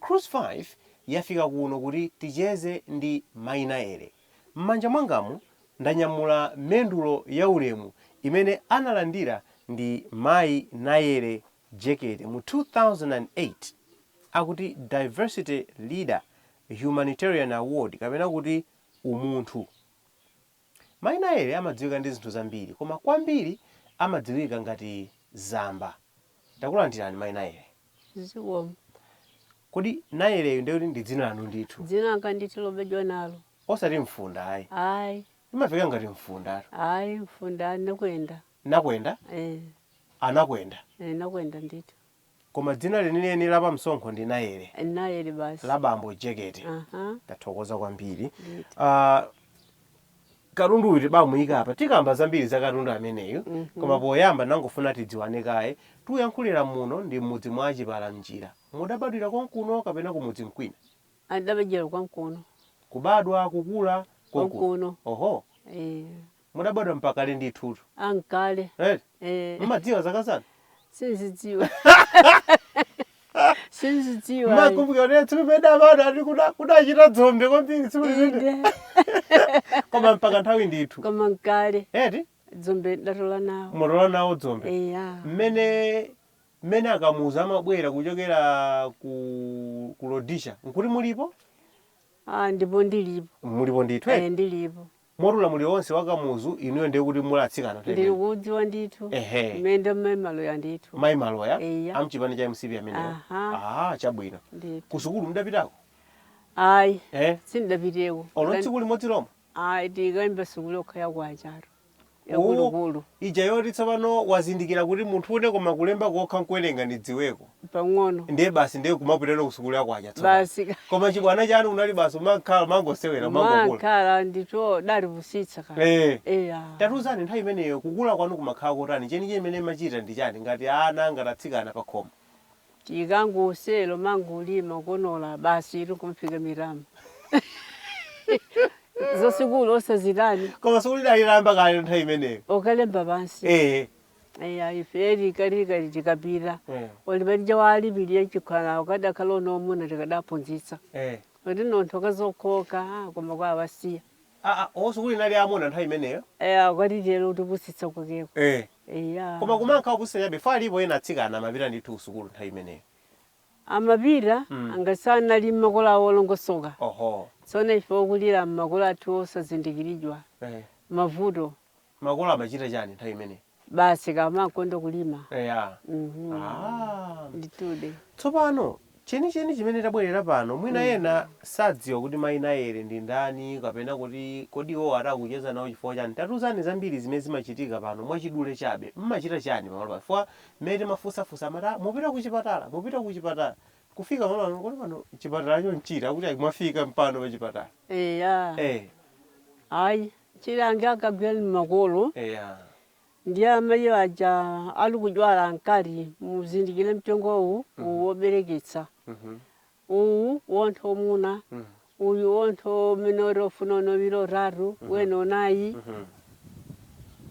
Cruise 5 yafika kuno kuti ticheze ndi Mai Nayele. M'manja mwangamo ndanyamula mendulo ya ulemu imene analandira ndi Mai Nayele Jekete mu 2008 akuti Diversity Leader Humanitarian Award kapena kuti Umunthu. Mai Nayele amadziwika ndi zinthu zambiri koma kwambiri amadziwika ngati Zamba. Takulandirani Mai Nayele. Zikomo. Kodi Nayeleyu ndiye kuti ndi dzina lanu ndithu? Dzina langa ndithu lobadwa nalo. Osati Mfunda ayi? Ayi. Limamveka ngati Mfundatu. Ayi, Mfunda, Nakwenda. Nakwenda? Eeh. A Nakwenda. Eeh, Nakwenda ndithu. Koma dzina lenileni la pamsonkho ndi Nayele. Nayele basi. La bambo Jekete. Aha. Tathokoza kwambiri. Ndithu. Ah, katundu uyu tibamuika apa. Tikamba zambiri za katundu ameneyu. Koma poyamba nangofuna tidziwane kaye. Tuyankhulira muno ndi m'mudzi mwa a Chipalamnjira. Mudabadwira konkuno kapena kumudzi mkwina? Ndidabadwira konkuno. Kubadwa, kukula konkuno. Konkuno. Oho. Eh. Mudabadwa mpakale ndithutu. a nkale. Eti? eh, Mumadziwa zaka zanu? sinzidziwa sinzidziwa ayi. Mmakumbukira kuti tsiku limene amadati kuda- kudachita dzombe kwambiri tsiku limene. Inde. Koma mpaka nthawi ndithu. koma nkale Eti? dzombe tidatola nawo Mutola nawo dzombe. eya mmene mmene a Kamuzu amabwera kuchokera ku ku Rhodesia nkuti mulipo a ndipo ndilipo mulipo ndithu eh, eh? ndilipo Moti ulamuliro onse wa Kamuzu inuyo ndiye kuti muli atsikana nthawi imeneyo. kuudziwa ndithu Ehe. mmene Mai Maloya ndithu Mai Maloya Eya. a mchipani cha mcp amenewo. Aha. Ah, chabwino. ndithu Kusukulu mudapitako? ayi Eh? sindidapiteko Olo Tikani- tsiku limodzi lomwe? ayi tinkayimba sukulu yokha ya kwachayo Oh, yakuluakulu ija yoti tsopano wazindikira kuti munthu ine koma kulemba kokha nkuwerenga ndidziweko. pang'ono ndiye basi ndiye kumapitano kusukulu ya kwacha tsopano basi ka- koma chibwana chanu kunali basi umakhala umangosewera umangokula timakhala ndithu tidali opusitsa kale Eh. eya tatuzani nthawi imeneyo kukula kwanu kumakhala kotani chenicheni chimene mumachita ndi chiyani ngati ana ngati atsikana pa khomo tinkangosewera kumangolima kukonola basi iri kumfika mirama zasukulu osazitani koma sukulu idali itayamba kale nthawi imeneyo okalemba pansi eh Eya ife tikati tikapita Eh. oli palije wolipirira chikhala ukadakhala mwamuna tikadaphunzitsa Eh. kuti nonthu ukazokoka ah, koma kwa awasiya Ah, ah, oh, sukulu inali ya amuna nthawi imeneyo. eya amatitero kutipusitsa kwakeko Eh. eya Koma kumakhala kupusitsa chabe chifukwa alipo ena atsikana amapita ndithu kusukulu nthawi imeneyo. amapita Mm. anzathu ali mmakolo awo olongosoka Oho. tsono ife okulira mmakolo athu osazindikiridwa Eh. mavuto Makolo amachita chani nthawi imeneyi? Basi kaya amakonda kulima. Eya. Mhm. Ah. Nditude. Tsopano chenicheni chimene tabwerera pano mwina Mm. ena sadziwa kuti mayi Nayeli ndi ndani kapena kuti kodi iwowo atha kucheza nawo chifukwa chani. Tatiuzani zambiri zimene zimachitika pano mwachidule chabe. Mmachita chani pamalo pano chifukwa mmene timafunsafunsa amati ah mupita kuchipatala mupita kuchipatala. Kufika pamalo pano kodi pano chipatalacho nchiti akuti ayi mwafika mpano pachipatala. Eya. Eh. Ayi Chilangizo akagwira ni makolo Eya. ndi amayi aja ali kudwala ankati muzindikire mtengo uwu, uwu wobereketsa, Mhm. uwu munthu wamuna, Mm. uyu munthu amene ali ofuna uno wiri otatu, wina unayi. Mhm.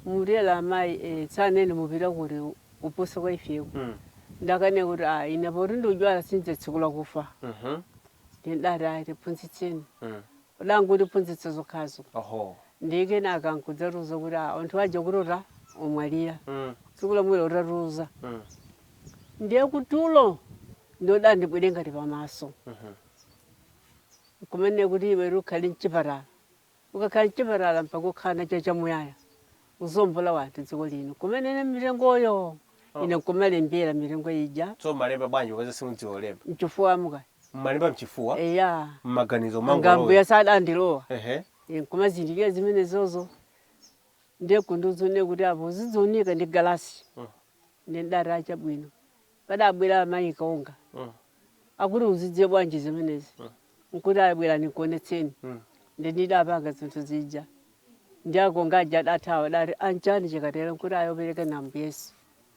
Mutero amayi eh, tsanene mupita kuti kupusa kwa ifeko. Mm. Ndikane kuti ah, ine poti ndikudwala sindidzatsegula kufa. Mhm. Ndidati ayi tiphunzitseni. Mm. Kodi angondiphunzitsa zokhazo Oho. ndiye kenaka nkudzatiuza kuti "Ah, anthu aja kuti ota omwalira Mm. tsiku lomwelo utatiuza Mm. ndiye kutulo adandibwera ngati pamaso Mhm. kumene kuti iwe ukhale mchipatala ukakhala mchipatala mpaka ukhala nacho chamuyaya kuzombola wanthu dziko lino kumanena mitengoyo oh. ine nkumalembera mitengo ija tsono mmalemba bwanji ukaza simudziwa kulemba mchifuwa mumalemba mchifuwa eya mmaganizo mwanga ngati ambuye adandilowa ehe nkumazindikira zimene zizo ndiye kundiuzanso kuti apo zidzioneka ndi galasi oh. ndidati achabwino Padabwera Amayi Konga akuti uzidziwa bwanji zimenezi nkuti ayi bwerani nkuonetseni ndiye ndidapanga zinthu zija ndiye Akonga aja adathawa adati anchani chikatero nkuti ayi opereka ndi Ambuye Yesu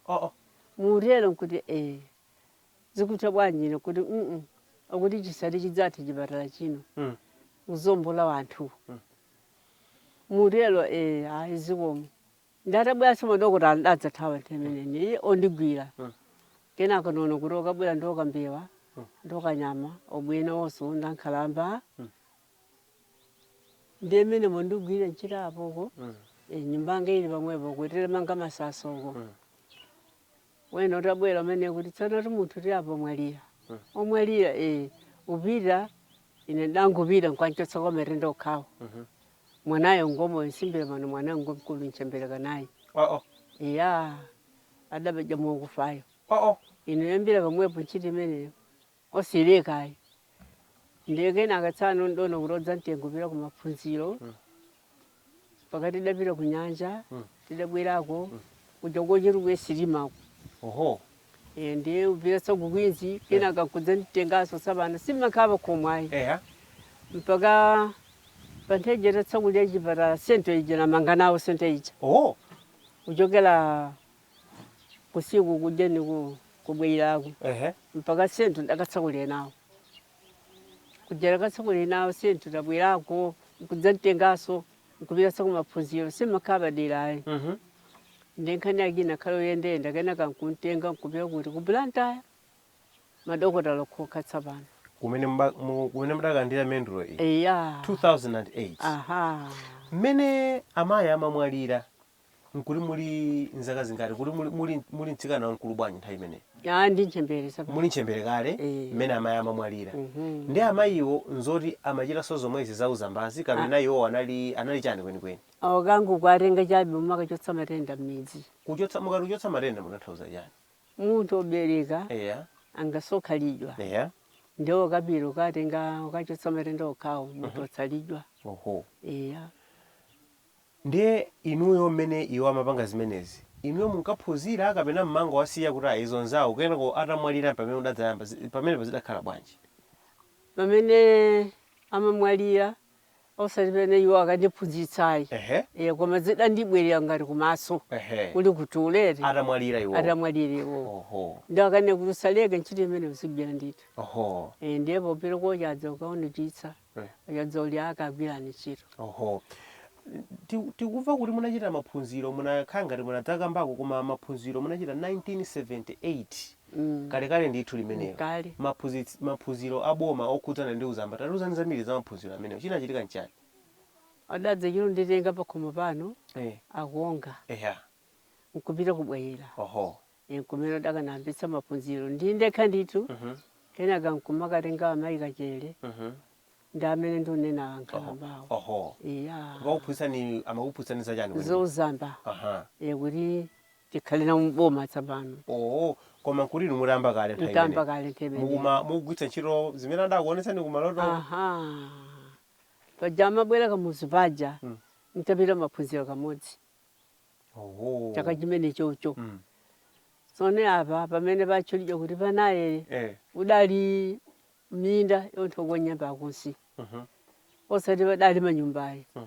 oh mutero nkuti ee zikutha bwanji ine nkuti mm akuti chisadzati chidzathe chipatala chino kuzombola anthu mutero ee ayi zikomo. Ndatabweranso madokotala ndadzathawa nthawi imeneyi ondigwira. Kenako ndaona kuti okabwira ndi okambewa ndi okanyama obwera onse ndi ankhalamba. Ndiye mmenemo ndigwire ntchito apoko. Eh, Nyumba yanga ili pamwepo kutere manga masasa uko. wena utabwera umene kuti tsonotu munthu ti apa mwalira omwalira kupita ine ndangopita nkwamchotsa kumatenda okhawo mwanayo ngomwe ndiyambira pano mwanayo ngomkulu nchembere kanayi oo iya adapedya mokufayo oo ine kuyambira pamwepo ntchito imeneyo osaleka ayi ndiye kenaka tsano ndidaona kuti adzamtenga kupita ku maphunziro pakati tidapita ku nyanja tidabwerako kuja ku Chitukuko sirimako oho Eh, ndiye upita tsakukwinzi kenaka kudzamtengaso tsapano simakhala pakhomo ayi eya mpaka pamene atatsakula chipatala senta ija ndamanga nawo senta ija oho kuchokera kusiku kuja nikubwerako Ehe. mpaka senta ndakatsakula nawo kuja ndakatsakula nawo senta tabwelako nkudzantengaso nkupitanso kumaphunziro simakhala padera ayi Mhm. ndiye nkhani yake inakhala yoyendayenda kenaka nkuntenga nkupita kuti ku blantyre madokotala okhokha tsapano kumene muba- mu- kumene mudakandira mendulo iyi eya 2008 aha mmene amayi amamwalira Nkuti muli nzaka zingati? Kuti muli muli muli mtsikana wamkulu bwanji nthawi imeneyo? Ah, ndi ntchembere tsapano. Muli ntchembere kale Eh. mmene amayi amamwalira. Mhm. Ndiye amayiwo nzoti amachitanso zomwezi za uzambazi kapena iwo anali anali chani kwenikweni? Awo ankangowatenga chabe kumakachotsa matenda mmidzi. Kuchotsa mukati kuchotsa matenda mutanthauza chani? Munthu obereka Eya. angasokhalidwa Eya. nde iwo kupita kukatenga kukachotsa matenda okhawo munthu otsalidwa. Oho. Eya. Ndiye inuyo mmene iwo amapanga zimenezi, inuyo munkaphunzira kapena mmangowasiya kuti ayi izo nzawo kenako atamwalira mpamene mudadzayamba, zi, pamenepo zidakhala bwanji? Pamene amamwalira osati pamene iwo ankandiphunzitsa ayi, Ehe. eya koma zidandibwerera ngati kumaso Ehe. kuli ku tulo eti, Atamwalira iwowo. atamwalira iwowo. Oho. Ndiye ankanena kuti usaleke ntchito imeneyo uzigwira ndithu. Oho. Eeh, ndiye popita kochi adza kukaonetitsa. Eh. Akadzauza kagwirani ntchito. Oho. Ti- Tikuva kuti munachita maphunziro munakhala ngati munadzakambako koma maphunziro munachita 1978. Mm. Kalekale ndithu limenelo. Kale. Maphunzitsi- Maphunziro a boma okhudzana ndi uzamba. Tatiuzani zambiri za maphunziro amenewo. Chinachitika nchani? Adadzachita nditenga pakhomo pano Eh. aku Wonga Eya. nkupita ku Bwaila. Oho. n'kumene ndakayambitsa maphunziro ndi ndekha ndithu kenaka nkumakatenga amayi Kachere ndi amene ndikunena ankhalambawo oho eya kukakuphunzitsani amakuphunzitsani za chani kwenikweni? za uzamba aha e kuti tikhale na boma tsapano oo koma nkuti inu mutayamba kale nthawi mtayamba imeneyi. kale mmene mukuma mukugwiritsa ntchito zimene adakuonetsani kumaloto aha paja amabwera kamuzu paja ntapita maphunziro kamodzi Oho. chaka chimenechocho Mm. sono apa pamene patchulidwa kuti pa Nayere Eh. udali minda yonseko nyemba akusi Mhm. osati padali manyumba ayi Mm.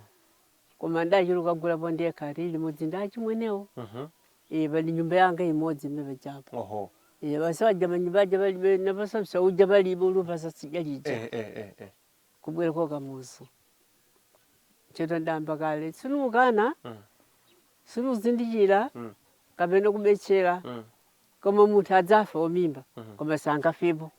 koma ndachuluka gulapo ndekha tili limodzi ndi achimwenewo Mhm. iii pali nyumba yanga imodzi imene pajapo Oho. iye basi waja manyumba aja palibe napaso msauja palibe ulupasa sija lija Eh eh eh eh. kubwera kwa kamuzu ntchito ndayamba kale sinukana Mm. sinuzindikira Mm. kapena kubetchera Mm. koma munthu adzafe wamimba Mhm. koma sanafepo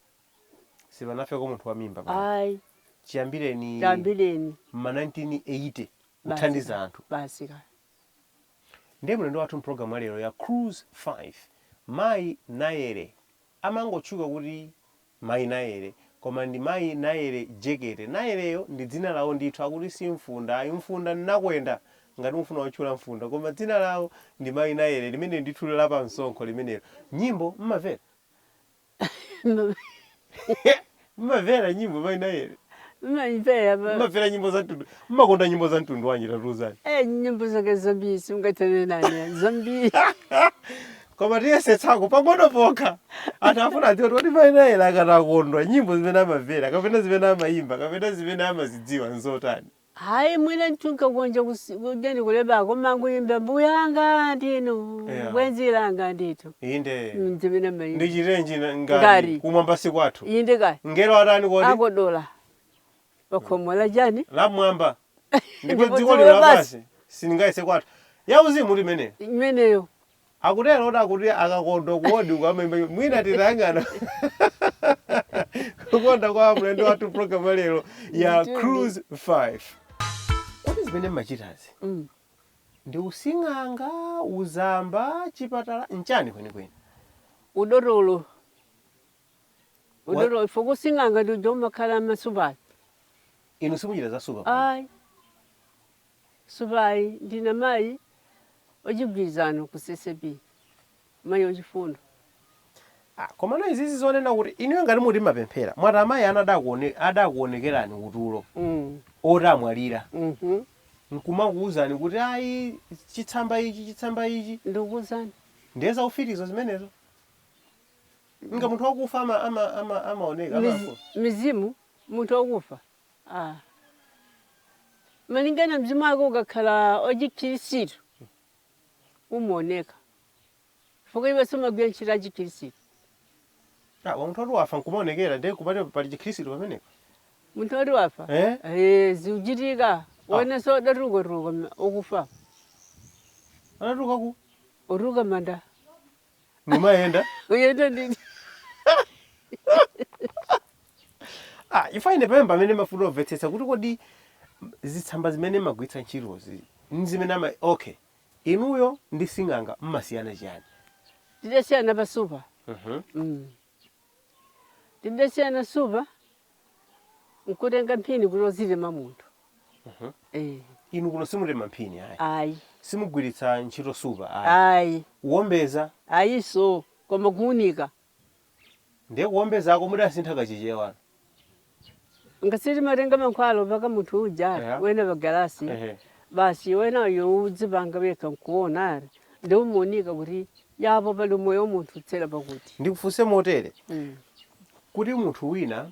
sipanafeko munthu wa mimba pano. ayi chiyambireni chiyambireni ma 1980 Basi. kuthandiza anthu basi kaya ndiye mlendo wathu mpulogalamu yalero ya cruise 5 mayi nayere amangotchuka kuti Mayi Nayere. Koma ndi mayi Nayere Jekete. Nayereyo ndi dzina lawo ndithu. Akuti si Mfunda ayi. Mfunda n'Nakwenda! Ngati mufuna kutchula Mfunda. Koma dzina lawo ndi mayi Nayere, limeneli ndithu la pa msonkho limenelo. Nyimbo m'mavera? M'mavera nyimbo mayi Nayere? M'mamvera apa. M'mavera nyimbo za mtundu. M'makonda nyimbo za mtundu wanji tatiuzani? Eh, nyimbo zake zambiri simungathane nane. Zambiri. koma tiyesetsako pang'ono pokha anthu afuna adziwe kuti kodi mayi Nayere akati akondwa nyimbo zimene amamvera kapena zimene amayimba kapena zimene amazidziwa nzotani hayi mwina ntha kukanika kusi- kukanika ndikulemba koma kuyimba mbuyanga ndinu Yeah. bwenzi langa ndithu inde Mm, zimene mayimba ndichitenji na- ngati Ngati. kumwamba si kwathu inde kaya angelo atani kodi akodola pakhomo la chani lamwamba ndipo Ndipo dziko dziko lino lapansi. lapansi silingayese kwathu yauzimu imeneyo imeneyo Akutero oti akuti akakondwa kodi akamaimba nyimbo mwina titayang'ana kukonda kwa mlendo wathu program ya lero ya Ndithudi. Cruise 5. Kodi zimene mmachitazi Mm. ndi using'anga, uzamba, chipatala nchani kwenikweni? udotolo udotolo ife kusing'anga ndiko kumakhala masupala Inu simuchita zasupa pano. ayi Supa ayi ndine mayi wachigwirizano ku CCAP, mayi wachifundo. Ah komano izizi zonena kuti inuyo ngati mukuti mmapemphera mwati amayi anu adakuone adakuonekerani utulo mm. oti amwalira mm -hmm. nkumakuuzani kuti ayi chitsamba ichi chitsamba ichi ndikukuuzani ndiye zaufititu zimenezo nanga munthu wakufa ama ama ama amaoneka Miz, amafu. mizimu munthu wakufa a. Malingana mzimu wako ukakhala achikhirisitu umaoneka chifukwa iwenso umagwira ntchito ya chikhirisitu. Ah, wa munthu oti wafa nkumaonekera ndiye kupati pali chikhirisitu pamenepo. Munthu oti wafa Eh? Eh, zikuchitika wenanso adatuluka tuluka ma- ukufa Anatuluka ku? kutuluka manda ndimayenda uyenda ndini ah, ifa ine pamene pamene ndafuna omvetsetsa kuti kodi zitsamba zimene magwiritsa ntchitozi ndi zimene ama okay inuyo ndi sing'anga mmasiyana chiyani tidasiyana pasupa Mhm. Mm. Ndimatenga supa nkutenga mphini kuti ozitema munthu. Mhm. Eh, Inu kuno simutema mphini ayi. ayi. Simugwiritsa ntchito supa ayi. Ayi. Kuombeza Ayiso koma kuunika. ndiye kuombezako mudasintha kachichewa. Ngati timatenga mankhwala opaka munthu uja yeah. wena pagalasi yeah. basi wena uyo udzipanga wekha nkuona ari ndi umuunika kuti yapo pali umoyo munthu utsera pakuti ndikufunse motere mm. kuti munthu wina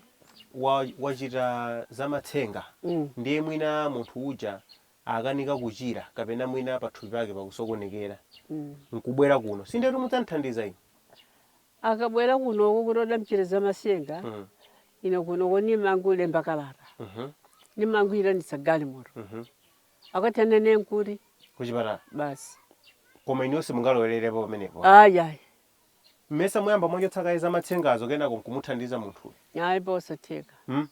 wachita wa zamatsenga mm. ndiye mwina munthu uja akanika kuchira kapena mwina pathupi pake pakusokonekera mm. nkubwera kuno si ndetu mudzamthandiza inu Akabwera kunoko kuti adamchitira za matsenga mm. ine kunoko nimangulemba kalata mm -hmm. nimangoitanitsa galimoto mm -hmm. akatana nenkuri kuchipatala basi koma inuyo si mungalowererepo pamenepo ayi ayi mmesa muyamba mwachotsa kaye za matsengazo kenako nkumuthandiza munthu ayi posatheka mm?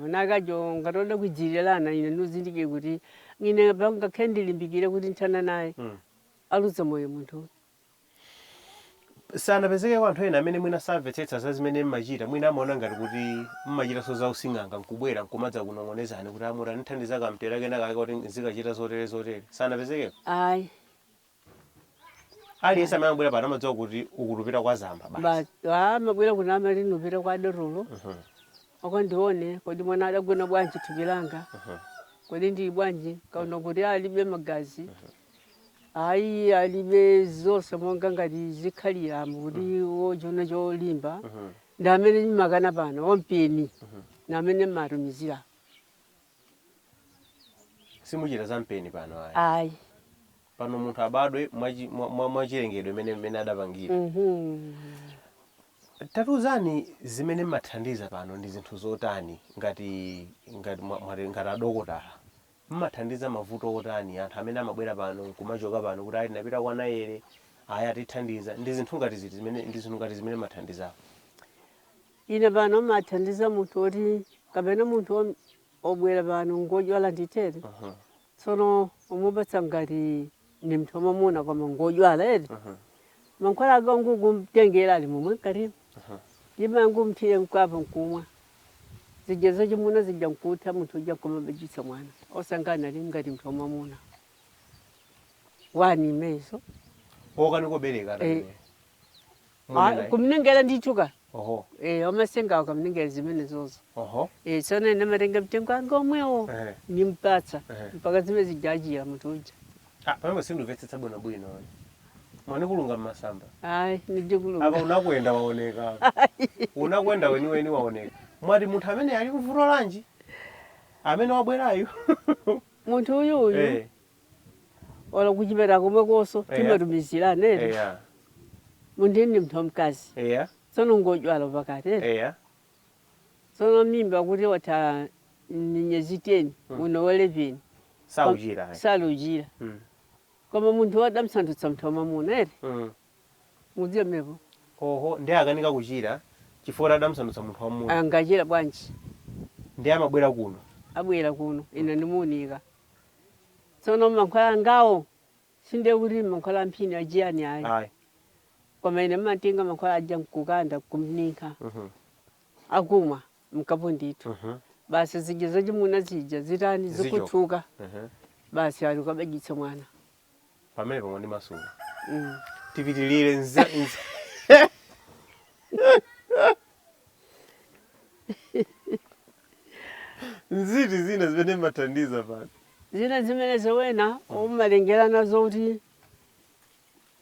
nakajo ngati oda kujirirana ine nizindikire kuti ine ngakhale ndilimbikire kuti nthana naye mm. aluza moyo munthu Sanapezekeko anthu ena amene mwina samvetsetsa za zimene mmachita, mwina amaona ngati kuti mmachitanso za using'anga nkubwera nkumadzakunong'onezani kuti a mutandithandiza kamtera kena kake koti nzikachita zotere zotere? Sanapezekeko? Ayi. Aliyense amene amabwera pano amadziwa kuti uku tupita kwa zamba basi. Basi. Ah, amabwera kuno amati ndipite kwa dotolo. Akandione kodi mwana adagona bwanji mthupi langa. Kodi ndili bwanji? Kaona kuti alibe magazi. Ayi, alibe zonse monga ngati zikhaliramo kuti mm. wochiona cholimba mm -hmm. ndi amene ndimakana pano wampeni mm -hmm. ndi amene mmatumizira simuchita za mpeni pano ayi ayi pano munthu abadwe mwachilengedwe mwa, mwa mene adapangira mm -hmm. tatiuzani zimene mmathandiza pano ndi zinthu zotani ngati ngati ngati adokotala Mumathandiza mavuto otani? Anthu amene amabwera pano nkumachoka pano kuti ayi tinapita kwa Nayele, ayi atithandiza, ndi zinthu ngati ziti zimene ndi zinthu ngati zimene mmathandizapo? Ine pano mathandiza munthu oti kapena munthu om- obwera pano ngodwala nditere Mhm. tsono umupatsa ngati ndi mnthu wamamuna koma ngodwala eti Aha. mankhwala ake nkungomtengera ali momwe mkatimo Aha. ndimangomthira mkapu nkumwa zija zachimuna zija nkutha munthu uja kumabajitsa mwana osangana ali ngati mnthu wamamuna wani imezo okanika kubereka Eh. atamene Munena iyi. kumnengera ndithu ka Oho. Eh, wamasengawo kumnengera zimenezozo Oho. Eh, tsono ine matenga mtengo wanga omwewo Ehe. nimpatsa Ehe. mpaka zimene zija achira munthu uja Ah, pamene sindimvetsetsa bwino bwino. Mwandikulunga mmasamba. ayi Apa ndidikulunga unakwenda waoneka. Unakwenda weni weni waoneka. Mwati munthu amene ali muvuto lanji? Amene wabwerayu. munthu uyu uyu Eh. olo kuchipeta komwekonso Eya. timatumizira anene eya munthu ndi mnthu wamkazi eya tsono ngodwala pakati eti. eya tsono mimba kuti watha minyezi 10 uno wa 11 sauchira ayi. saluchira Mm. koma munthu wadamsandutsa mnthu wamamuna eti Mm. mudziwa mepo oho ndiye akanika kuchira chifukwa adamsandutsa munthu wamuna angachire bwanji ndiye amabwera kuno abwera kuno ine ndimuunika tsono mankhwala angawo sindiye kuti mankhwala amphini achiyani ayi ayi koma ine mmatenga mankhwala aja nkukanda kumninkha Mhm. akumwa mkapu ndithu Mhm. basi zija zachimuna zija zitani Zicho. zikutsuka Mhm. basi ali ukabaditse mwana Pamenepo mwandimasula. Tipitirire nza nza. Nziti zina zimene mathandiza pano. Zina zimene zowena akumalengerana zoti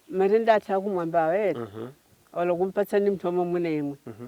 matenda athu akumwamba awere. Mhm. Olo kumpatsa ndi mthu omwe mwina imwe. Mhm.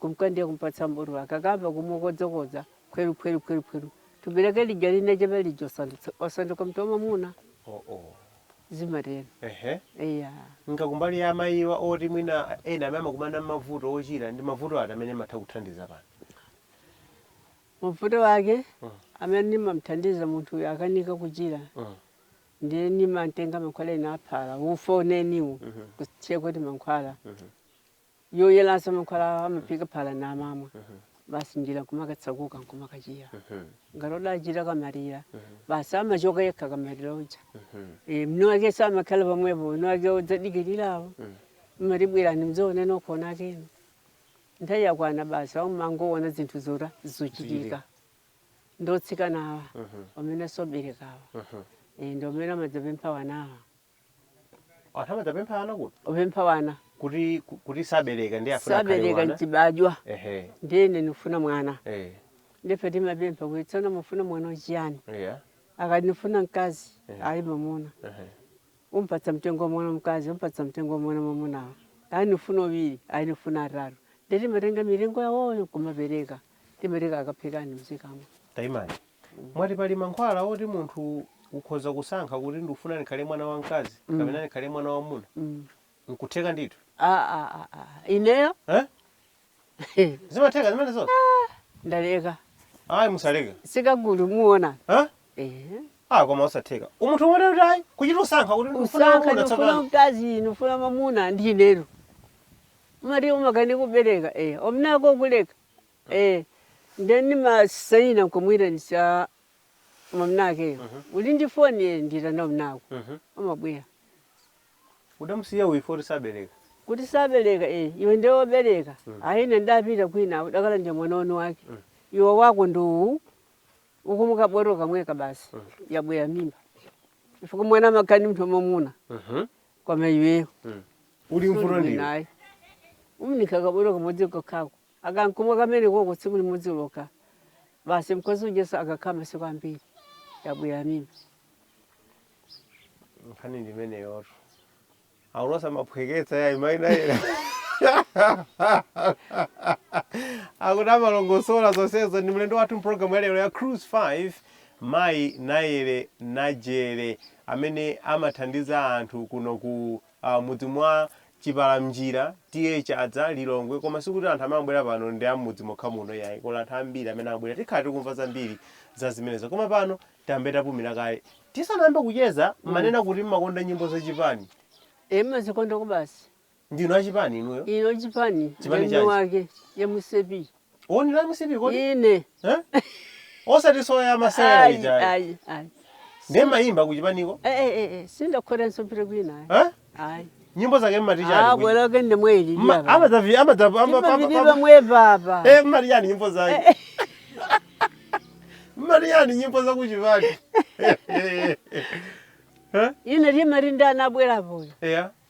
kumka ndiye kumpatsa mbulu akakamba kumakodzakodza khweru khweru khweru khweru thupi lake lija linachepa lija osandutsa- osanduka mnthu wamamuna Oh, oh. zimatero Ehe. eya nanga kumbali ya amayiwa oti mwina ena amene amakumana mavuto ochira ndi mavuto ati amene mumatha kuthandiza pano mavuto ake Mm. amene nimamthandiza munthu uyu akanika kuchira Mm. ndiye nimamtenga mankhwala ena aphala ufa umenewo kuthekoti mankhwala yoyeranso mankhwala amaphika phala namamwa basi njira kumakatseguka nkumakachira ngati odachita kamaliro basi amachoka yekha kamaliro uja e, mwamunake samakhala pamwepo mwamunake adzadikirirawo mmati bwerani mdzaone nokhano akazi anu nthawi yakwana basi amangoona zinthu zotere zachitika ndi atsikanawa amene osaberekawa e, ndi amene amadzapempha wanawa anthu amadzapempha ana kuno opempha wana kuti ku- kuti sabereka ndi afuna akhale sabereka wana mchibadwa ehe nde ine ndifuna mwana eh ndife timapempha kuti tsono mufuna mwana wachiyani yeah akati ndifuna mkazi Eh. ali mamuna ehe umpatsa mtengo wa mwana mkazi umpatsa mtengo wa mwana mamunawo ali ndifuna awiri ali ndifuna atatu nde timatenga milingo yawoyo kumapereka timatenga akaphikani mzikamo tayimani Mwati pali mankhwala oti munthu ukhoza kusankha kuti ndikufuna ndikhale mwana wamkazi kapena ndikhale mwana wamwamuna? Nkutheka ndithu? Ah, ah, ah, ah. Ineyo? Eh? He, Zimatheka zimenezo? ndaleka. Ayi musaleke. Sikagulu muona. Eh? Eh. Ah, koma osatheka. Munthu amene kuti ayi kuchita kusankha kuti ndikufuna Usankha wamuna ndikufuna tsopano. mkazi, ndikufuna mamuna ndi ineyo. Mari umakani kubereka. Eh, omnako kuleka. Eee nde ndimatsanzika nkumuitanitsa mwamunakeyo uli ndi foni ee ndiyitana mwamunako amabwera. Udamusiya uyu foti sabereka? Kuti sabereka ee iwe nde obereka ayi ine ndapita kwina udakhala ndi mwana wanu wake iwe wako ndi uwu ukamwe kaboro kamweka basi yabwera mimba chifukwa mwana amakhala ndi munthu wamwamuna koma iweyo Uli mvuto suli bwino ndiwe. ayi uminika kaboro kamodzi kokhako. Akamkumwa kamene koko tsiku limodzi lokha basi mkazi ujanso akakhala masiku ambiri yabwera mimba. nkhani ndi imeneyotu akuluwa samaphweketsa yayi mayi Nayere akuti amalongosola zonsezo ndi mlendo wathu mpulogalamu yalero ya cruise 5 mayi Nayere Najere amene amathandiza anthu kuno ku a m'mudzi mwa Chipalamnjira, TA Chadza, Lilongwe koma sikuti anthu amene akubwera pano ndi a m'mudzi mokha muno iyayi kuli anthu ambiri amene akubwera tikhala tikumva zambiri za zimenezo koma pano tiyambe tapumira kaye tisanayambe kucheza munanena kuti mmakonda nyimbo za chipani e ndimazikonda kwabasi ndinu achipani inuyo inu chipani Chipani ndani chanji? wake ya MCP Born la MCP kodi ine Eh? osati zoya za masewera ayi ija ayi ayi ndiye mayimba kuchipaniko Eh, eh, eh, eh, sindakhalenso kwina ayi Eh? ayi nyimbo zake mmatichani abweroke ndi mweli imavinidwa mwe baba mmati chani nyimbo zake mmati chani nyimbo zakuchipani ine limali ndi anabwerapoyo eya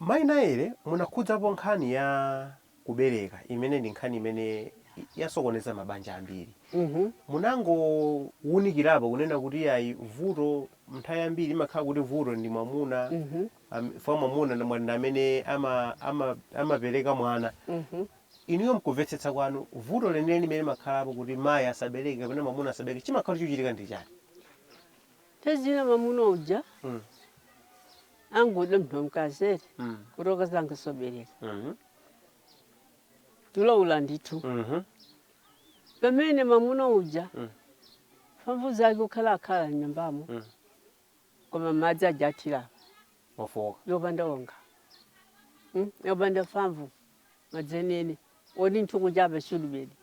Mayi Naele munakhudzapo nkhani ya kubereka imene ndi nkhani imene yasokoneza mabanja ambiri. Munangowunikirapo kunena kuti yayi vuto nthawi yambiri imakhala kuti vuto ndi mwamuna am- chifukwa mwamuna ndi mwa- ndi amene ama- ama- amapereka mwana. Inuyo mkumvetsetsa kwanu vuto lenileni limene limakhalapo kuti mayi asabereke kapena mwamuna asabereke chimakhala chikuchitika ndi chani? Nthawi zina mwamuna uja Mm. angoda munthu wamkazi eti Mm. kuti akazanga sobereka Mhm. tiloula ndithu Mhm. pamene mwamuna uja Mm. mphamvu zake kukhala akhala mnyumbamo Mm. koma madzi aja athira Wafoka. opanda wonga Mm, opanda mphamvu madzi eni eni odi nthuku chapa shudibedi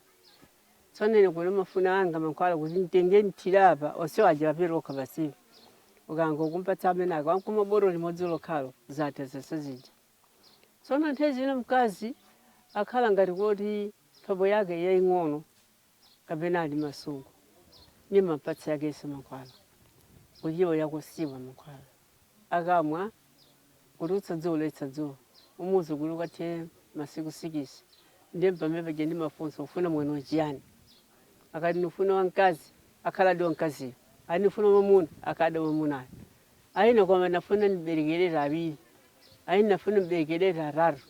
Tsono ine kuno ndimafuna anga mankhwala kuti nditenge ndithire apa, onsewo aja apita okha basibe. Ukangompatsa amene aka, wangomwa botolo limodzi lokhalo, zatha zonse zija. Tsono nthawi zina mkazi akhala ngati kuti mphamvu yake yaing'ono kapena ali m'masungu, ndimampatsa yakenso mankhwala, kuti iwo yakunsiwa mankhwala. Akamwa kutulutsa dzuwa kulasa dzuwa umuuze kuti ukathe masiku sikisi ndi pamene paja ndimafunsa ufuna mwana chiyani akati ndifuna wamkazi akhaladi wamkaziyo ati ndifuna mwamuna akhaladi mwamunayo ayi ine koma ndafuna ndiberekerere awiri ayi ndafuna ndiberekerere atatu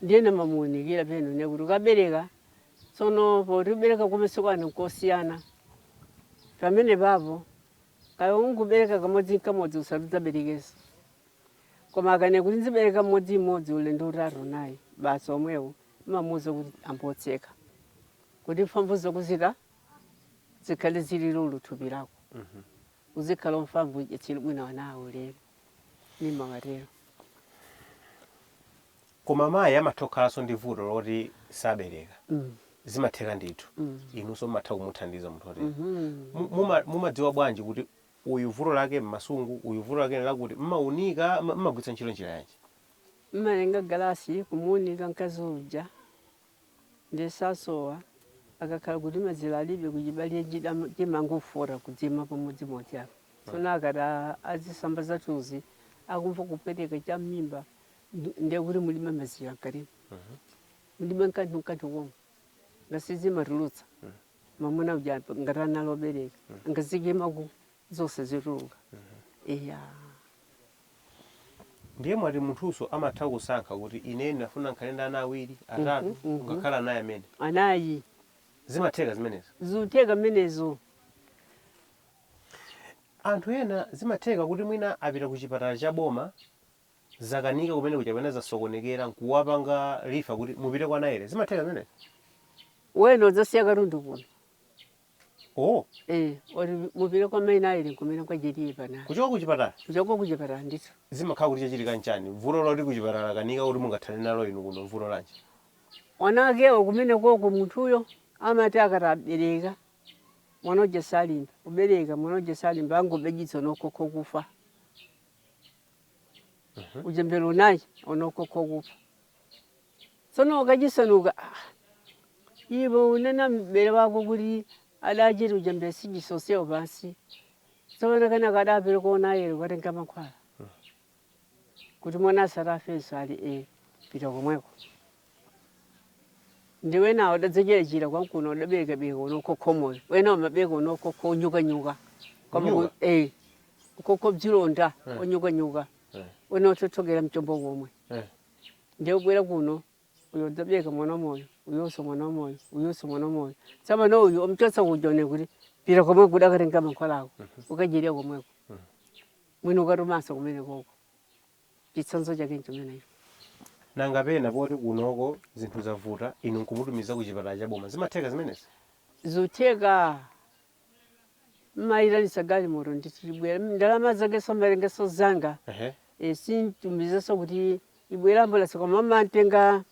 ndiye ndimamuunikira penano kuti ukabereka tsono poti ubereka kumene sikwana nkosiyana pamene papo Kaya ungobereka kamodzi nkamodzi usati udzaberekenso. Koma akanena kuti ndzibereka mmodzi mmodzi ulendo utatu unayi basi omwewo umamuuza kuti ambotseka. Kuti mphamvu zako izi zikhale zili lulu thupi lako. Uzikhala wamphamvu uyetsere bwino ana awalere. Ndimawatero. Koma mayi amatha kukhalanso ndi vuto loti sabereka. Zimatheka ndithu. Inunso mumatha kumuthandiza munthu wotere. Mumadziwa bwanji kuti uyu vuto lake m'masungu, uyu vuto lake n'lakuti? M'maunika? M'magwiritsa ntchito njira yanji? M'matenga galasi kumuunika mkazi uja ndiye sasowa. Akakhala kuti mazira alibe kuchibaliro chimangofota kuzima pamodzimodzi apa. Tsono akati azisamba zathuzi, akumva kupweteka cham'mimba. ndiye kuti mulibe mazira mkatimo mulibe kanthu kanthu uko ndiye sizimatulutsa mamuna uja ngati analobereka angazikimako zonse zituluka iya ndiye mumati munthuso amatha kusankha kuti ine ndinafuna nkhale ndi ana awiri atatu Mhm, mhm. ngakhale anayi amene anayi zimatheka zimenezo zikutheka mmenezo anthu ena zimatheka kuti mwina apita ku chipatala cha boma zakanika kumene kuja kapena zasokonekera nkuwapanga refer kuti mupite kwa Naile. Zimatheka zimenezo? Wena udzasiya katundu kuno. Oh, Eh, oti mupite kwa maina ayili kumene kwa jetiye pana. kuchoka ku chipatala Kuchoka kuchipatala ndithu. zimakhala kuti chachitika nchani? Vuto loti ku chipatala akanika kuti mungathane nalo inu kuno vuto lanji? Mwana akewo kumene koko munthuyo amati akati abereka mwana uja salimba. Kubereka mwana uja salimba angobereka wokhawokha kufa. Mhm. uchembere unayi okhaokha okufa tsono akachitsanzika ah, iwe unena mbere wako kuti adachita uchembere sichisoseo pansi tsono kena ukapite kwa Nayere ukatenge mankhwala kuti mwana asatafenso ali pita komweko Ndi wenawo adadzachirachira kwamkuno adabereka wokhawokha wamoyo wena umabereka wokhawokha unyukanyuka koma ku- Unyuka? eh, wokhawokha zilonda Eh. unyukanyuka Eh. wena utsotsokera mchombo komwe Eh. ndiye ubwera kuno uyo udzabereka mwana wamoyo uyonso mwana wamoyo uyonso mwana wamoyo tsapano uyu omchotsa kuja unene kuti pita komwe udakatenga mankhwala ako ukadyerya komweko mwini ukatumanso kumene koko chitsanzo chake nchimenecho. Nanga pena poti kunoko zinthu zavuta inu nkumutumiza ku chipatala cha boma zimatheka zimenezi? Zitheka. Mmaitanisa galimoto ndithu libwera. Ndalama zake samatengeso zanga. Ehe. Eeh simtumizeso kuti ibwere ambulance koma mmamtenga.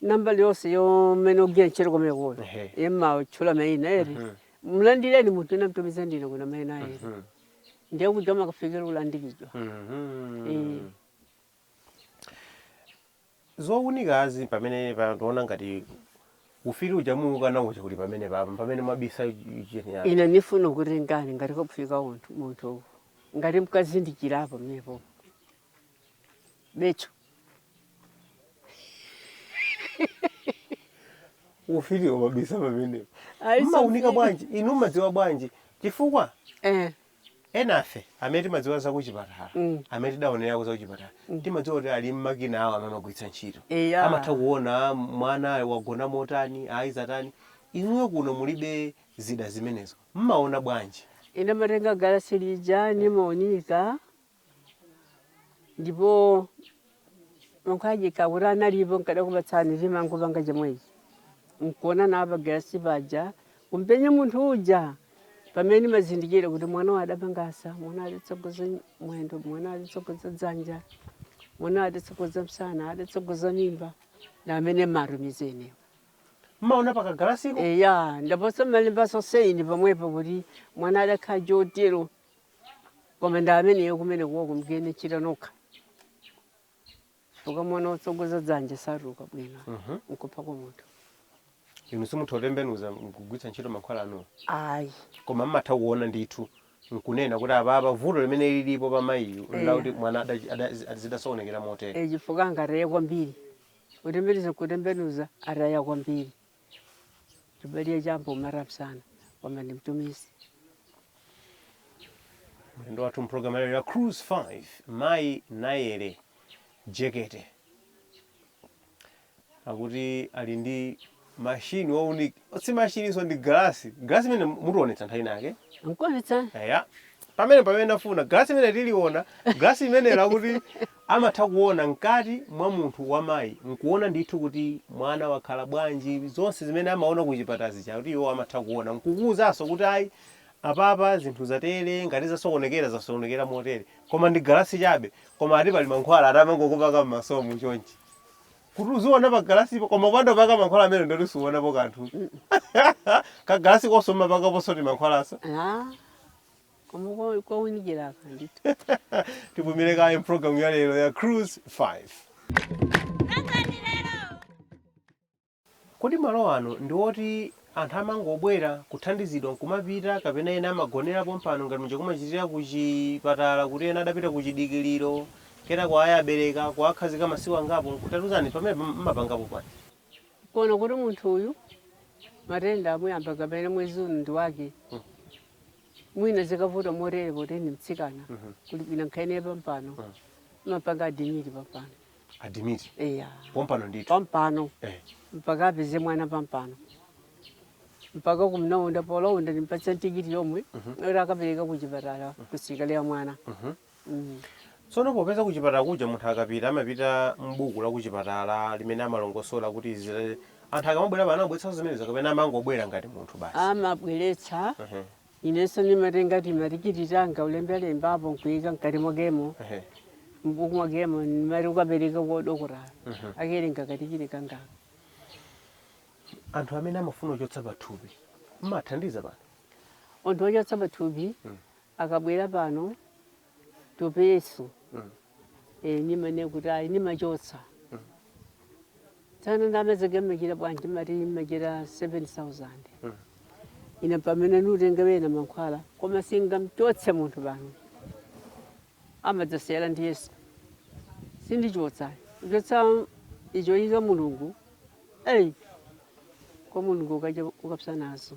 nambala yonse ya omwe ogwira ntchito komwe kuno Ehe. imatchula maina eri Mhm. mlandireni munthu ine ndamtumiza ndine kuna maina eri Mhm. ndiye kuja amakafikira ulandiridwa Mhm. Eh. zounikazi pamene pa- tiona ngati ufiti uja muukana uja kuti pamene papa pamene mwabisa cheni yake ine nifuna kuti ngati ngati kufika unthu munthu uwu ngati mkazindikirapo mmepo bethu ufiti waubisa pamenepo Ayi, mmaunika something. bwanji inu mmadziwa bwanji chifukwa Eh, enafe amene timadziwa zakuchipatala Mm. amene tidaonerako zakuchipatala timadziwa kuti ali mmakina awo amene amagwiritsa ntchito Eya. amatha kuona mwana wagona motani ayi zatani inuyo kuno mulibe zida zimenezo mmaona bwanji ine ndimatenga galasi lija nimaunika ndipo mankhwala aja akuti analipo nkadakupatsani timangopanga chomwechi nkuona nawo pa galasi paja kumpenye munthu uja pamene mmazindikira kuti mwana wa adapangasa mwana adatsogoza mwendo mwana adatsogoza dzanja mwana adatsogoza msana adatsogoza mimba na amene matumizi inewo mmaona pa kagalasiko eya ndiponso mmalembaso saini pamwepo kuti mwana adakhala chotero koma ndi ameneyo kumene kumakhala mkuchita nokha chifukwa mwana wotsogoza dzanja satuluka bwino Mhm. nkupha kwa munthu inu simutha kutembenuza kugwiritsa ntchito mankhwala anuwo ayi koma mmatha kuona ndithu nkunena kuti apapa vuto limene lilipo pa mayiyu Eh. lakuti mwana ada- ada- zi- zidasokonekera motere e chifukwa angataya kwambiri kutembenuza kutembenuza ataya kwambiri Libelie jambo marafu sana kwamba ni mtumishi. Mlendo wathu mpulogalamu lero ya Cruise 5 mayi Nayere Jekete pakuti ali ndi mashini wounika si mashininso ndi galasi galasi imene mutionetsa nthawi inake Nkonetsa eya pamene pamene ndafuna galasi imene tiliona galasi imene lakuti Amatha kuona mkati mwa munthu wa mayi nkuona ndithu kuti mwana wakhala bwanji, zonse zimene amaona kuchipatala zija akuti iwowo amatha kuona nkukuuzanso kuti ayi apapa zinthu zatere, ngati zasokonekera zasokonekera motere koma ndi galasi chabe koma ati pali mankhwala ati amangokupaka m'maso muchonchi kuti uziona pagalasipo koma ukapanda kupaka mankhwala amenewo ndiye kuti suonapo kanthu. Kagalasikonso umapakaponso timankhwalanso? Ah. koma kwa- kwaunikira apa ndithu tipumire kaye mpulogalamu ya lero ya cruise 5 kodi malo anu ndi oti anthu amangobwera kuthandizidwa nkumapita kapena ena amagonera pompano ngati muja kumachitira kuchipatala kuti ena adapita kuchidikiliro kena kuti ayi abereka kuwakhazika masiku angapo mutatiuzani zimene mmapangapo pano kuona kuti munthu uyu matenda amuyamba kapena mwezi uno ndi wake mwina zikavuta motere poti ndi mtsikana kuli bwino mukhale pampano timapanga adimiti pampano adimiti eya pompano ndithu pampano Eh. mpaka apeze mwana pampano mpaka kumulaunda polaunda ndimpatsa tikiti yomwe oti akapereka kuchipatala kusikelo ya mwana Tsono popeza kuchipatala kuja munthu akapita amapita m'buku la kuchipatala limene amalongosola kuti izi anthu akamabwera pano amabweretsanso zimenezo kapena amangobwera ngati munthu basi? Amabweretsa, inenso ndimatenga timatikiti tanga kulembalembapo n'kuyika m'kati mwakemo, m'buku mwakemo ndimati ukapereke kwa dokotala akawerenga katikiti kangaka. Anthu amene amafuna kuchotsa pathupi mumathandiza pano? Anthu ochotsa pathupi akabwera pano topeso ine nimanena kuti ayi nimachotsatsana ndalama zake mmachita bwanji timati mmachita 7000 ina pamene nutenga wena mankhwala koma singamchotse munthu pano amadzasewera ndi yesu sindichotsa kuchotsa ichoika mulungu eyi kwa mulungu ukaja ukapsa nazo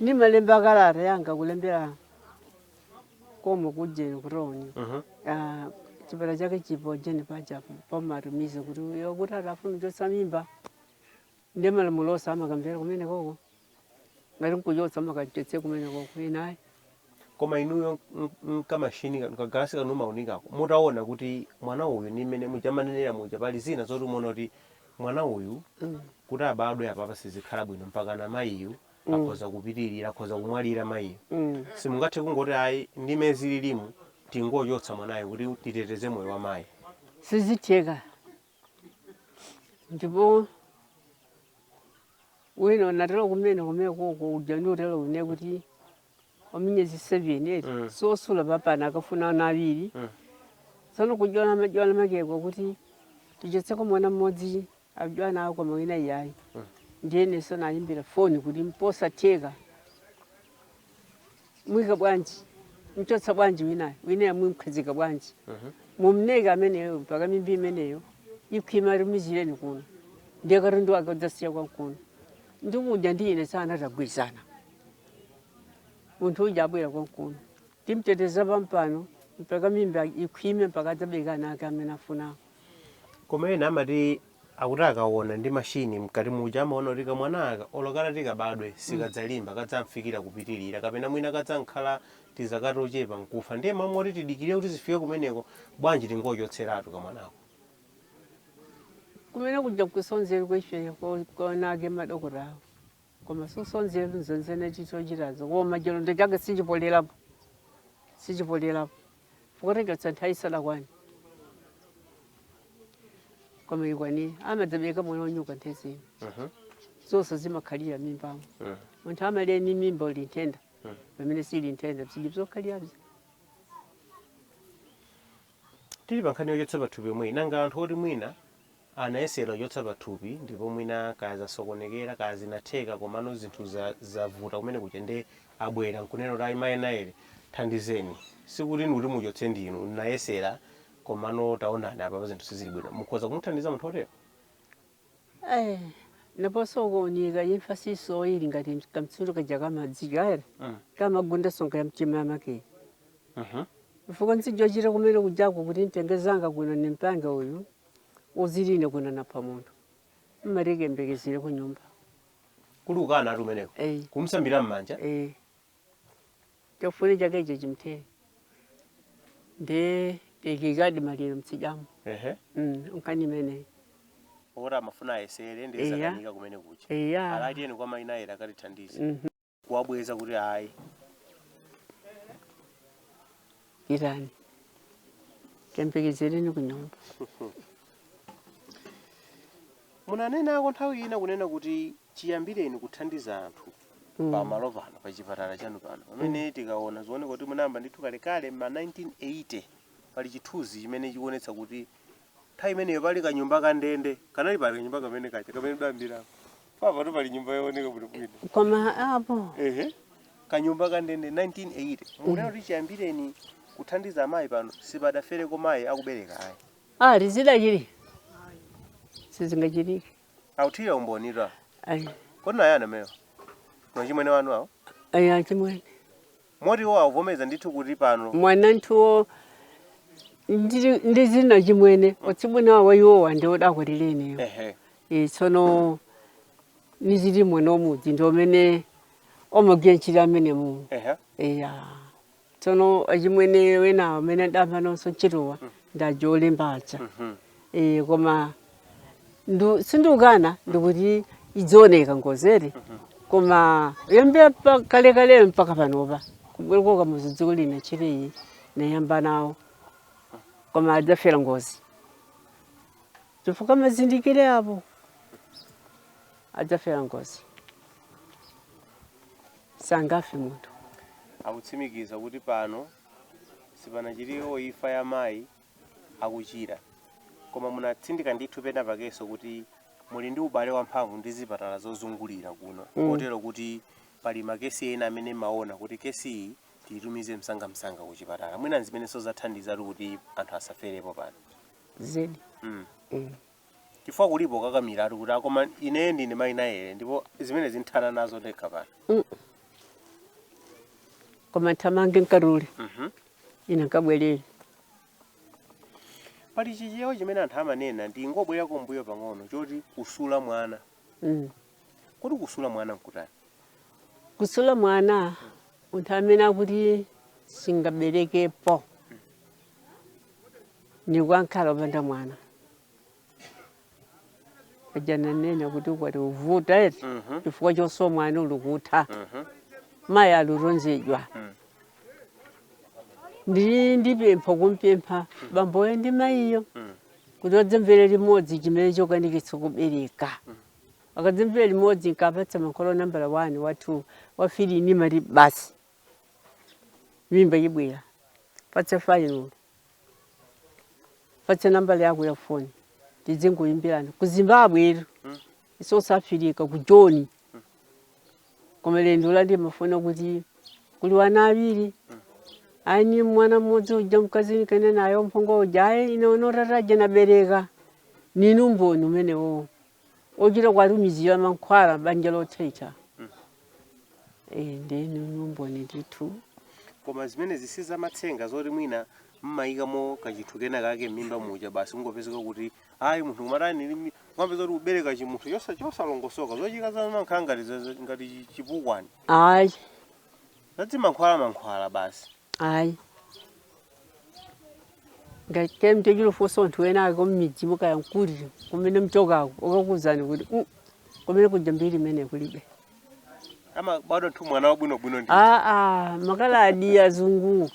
nimalemba kalata yanga kulembera komwe kujeni kutauni Mhm. Ah, chipata chake chipo ujeni paja pomatumiza kuti uyo kuti atafuna kuchotsa mimba ndi malamulo onse amakamvera kumenekoko ngati nkuchotsa amakachotse kumenekoko ine ayi Koma inuyo ndi kamachine kanu ka galasi kanu maunikako mutaona kuti mwana uyu ndi mmene muja amanenera muja pali zina zoti mwaona kuti mwana uyu kuti abadwe apapa sizikhala bwino mpakana mayiyu akhoza kupitirira akhoza kumwalira mayiyu simungathe kungoti ayi ndi mmene zililimu tingochotsa mwanayo kuti titeteze moyo wa mayi sizitheka ndipo wina unatero kumene kumenekoko uja ndiutero une kuti wa miyezi 7 eti mm. sosula pepala akafuna ana awiri mm. tsono kujambula majambula akeko kuti tichotseko mwana mmodzi adyana ako koma wina iyayi mm. ndiyenenso nayimbira foni kuti mposatheka mwika bwanji mchotsa bwanji winayo winayo mumkhazika bwanji mm -hmm. mumleke ameneyo mpaka mimba imeneyo ikhwime tumizireni kuno nde kalendi akadzasiya konkuno ndi muja ndiine tagwirizana munthu uja abwera konkuno timteteza pampano mpaka mimba ikhwime mpaka adzabereka ana ake amene afunako koma ena amati akuti akaona ndi mashini mkati muja amaona kuti kamwana aka olo katati kabadwe sikadzalimba kadzangofikira kupitirira kapena mwina kadzangokhala tizaka tochepa nkufa ndiye mmalo moti tidikire kuti zifike kumeneko bwanji tingochotseratu kamwanako kumene kuja kusonzerwa ifeyo konake madokotawo Koma zosonzeratu zimenezo timachita zo koma chilonda chake sichipolelapo sichipolelapo chifukwa tachotsa nthawi isadakwane koma ikakwanira amadzabereka mwana wanyuka nthendazi zonse zimakhalira mimbamo munthu amalira ni mimba ili nthenda pamene sili nthenda bzidi bzokhalirabzi tili pa nkhani yochotsa pathupi yomweyi nanga anthu oti mwina Anayesera kuchotsa pathupi ndipo mwina kaya zasokonekera kaya zinatheka komano zinthu zavuta kumene kuja nde abwera nkunena kuti ayi mai Nayere thandizeni sikuti ndikuti muchotse ndinu ndinayesera komano taonani apapa zinthu sizili bwino. Mukhoza kumuthandiza munthu otero? Eeh ndaponso kuunika imfa siyisowa ili ngati kamtsulo kaja kamadzi kale kamagunda nsonga ya mtima wa make chifukwa ntsijochita kumene kujako kuti ntenge zanga kuno nimpange uyu. Udzili ine kunena ndapha munthu mmati kayembekezereni kunyumba. Kuli kukanatu kumeneko Ei. kumsambira mmanja. Ei. Chafune chake icho chimthere. Ndiye tayikikadi maliro mtsidyamo. Ehe. Mm, nkhani imeneyi. Poti amafuna ayesere ndiye Eya. zakanika kumene kuja. Eya. Ala tiyeni kwa mai Nayere akatithandize. Mhm. kuwabweza kuti ayi pitani kayembekezereni ku nyumba. munanenako nthawi ina kunena kuti chiyambireni kuthandiza anthu pamalo pano pa chipatala chanu pano pamene tikaona zioneka kuti munayamba ndithu kalekale ma 1980 pali chithunzi chimene chikuonetsa kuti Nthawi imeneyo pali kanyumba ka ndende kanali pali kanyumba kamene kaja kamene ndayambira apapatu pali nyumba yooneka bwino bwino koma apo ehe kanyumba ka ndende 1980 mukuona kuti chiyambireni kuthandiza amayi pano sipadafereko mayi akubereka ayi ali sizidachitike sizingachitike akuthira umboni ati ayi kodi naye anamewa ndi achimwene anu awo ayi achimwene Moti iwo akuvomereza ndithu kuti pano. mwa anthuwo ndi, ndi zina chimwene atsibweni wa iwowa ndi odakwatira ineyo Ehe. e, tsono ndili mwana omudzi ndi omene omagwira ntchito amene mu Ehe. eya tsono achimwene wena amene adamva nonso ntchitowa ndi aja olemba aja Mhm. Eh, koma tu sindikukana ndikuti idzioneka ngozi eti koma ndayambira pa kale kale mpaka panopa kubereka ka muzi dziko lina chiri iyi nayamba nawo koma adzafera ngozi chifukwa mazindikire apo adzafera ngozi sangafe munthu akutsimikiza kuti pano sipanachitikepo imfa ya mayi akuchira. Koma munatsindika ndithu pena pakenso kuti muli ndi ubale wamphamvu ndi zipatala zozungulira kuno Mm. kotero kuti pali makesi ena amene maona kuti kesi iyi tiyitumize msangamsanga ku chipatala mwina nzimenenso zathandizatu kuti anthu asaferepo pano zedi mm. Mm. chifukwa kulipo kukakamiratu kuti akoma ineyo ndine mayi Nayere ndipo zimene ndithana nazo ndekha pano koma thamange mkarule Mhm. ine nkabwereri pali chichewa chimene anthu amanena ndingobwerera kumbuyo pang'ono choti kusula mwana Mm. kodi kusula mwana nkutani kusula mwana munthu amene akuti singaberekepo ndiko amkhala opanda mwana aja ndanena kuti ukwati uvuta eti Mhm. chifukwa chosowa mwana ulikutha Mhm. mayi aluronzedwa Mm. ndi ndipempha kumpempha bamboyo ndi mayiyo Mm. kuti adzamwere limodzi chimene chokanikitsa kubereka akadzamwera limodzi nkapatsa mankhwalo nambala 1 wa 2 wa 3 ni mali basi mimba yibwera patsa fainolo patse nambala yako ya foni tidzingoyimbirana ku zimbabwe ito south africa ku joni koma lendo la ndimafuna kuti kuli wana awiri ayi mwana mmodzi uja mkazi ndikene nayo mphongo uja ayi ine unoraraja nabereka nini umboni umenewowo ochita kuwatumizira mankhwala banja lothaithwa Eh, ndi numboni ndithu koma zimenezi si zamatsenga zoti mwina mmayikamo kachinthu kena kake m'mimba muja basi kungopezeka kuti ayi munthu kumatani limi- kumapeza kuti kubereka chimunthu chosa- chosalongosoka zochika zomakhala ngati chipukwani ayi zadzimankhwala mankhwala basi Ayi. Ngati kaya mtochira ufunsa anthu wena wake mmidzimu kaya mkuli kumene mchokako ukakuuzani kuti "Mm, kumene kuja mbiri imene kulibe. ama bado tu mwana wabwinobwino ndi Aa, makaladi azungu.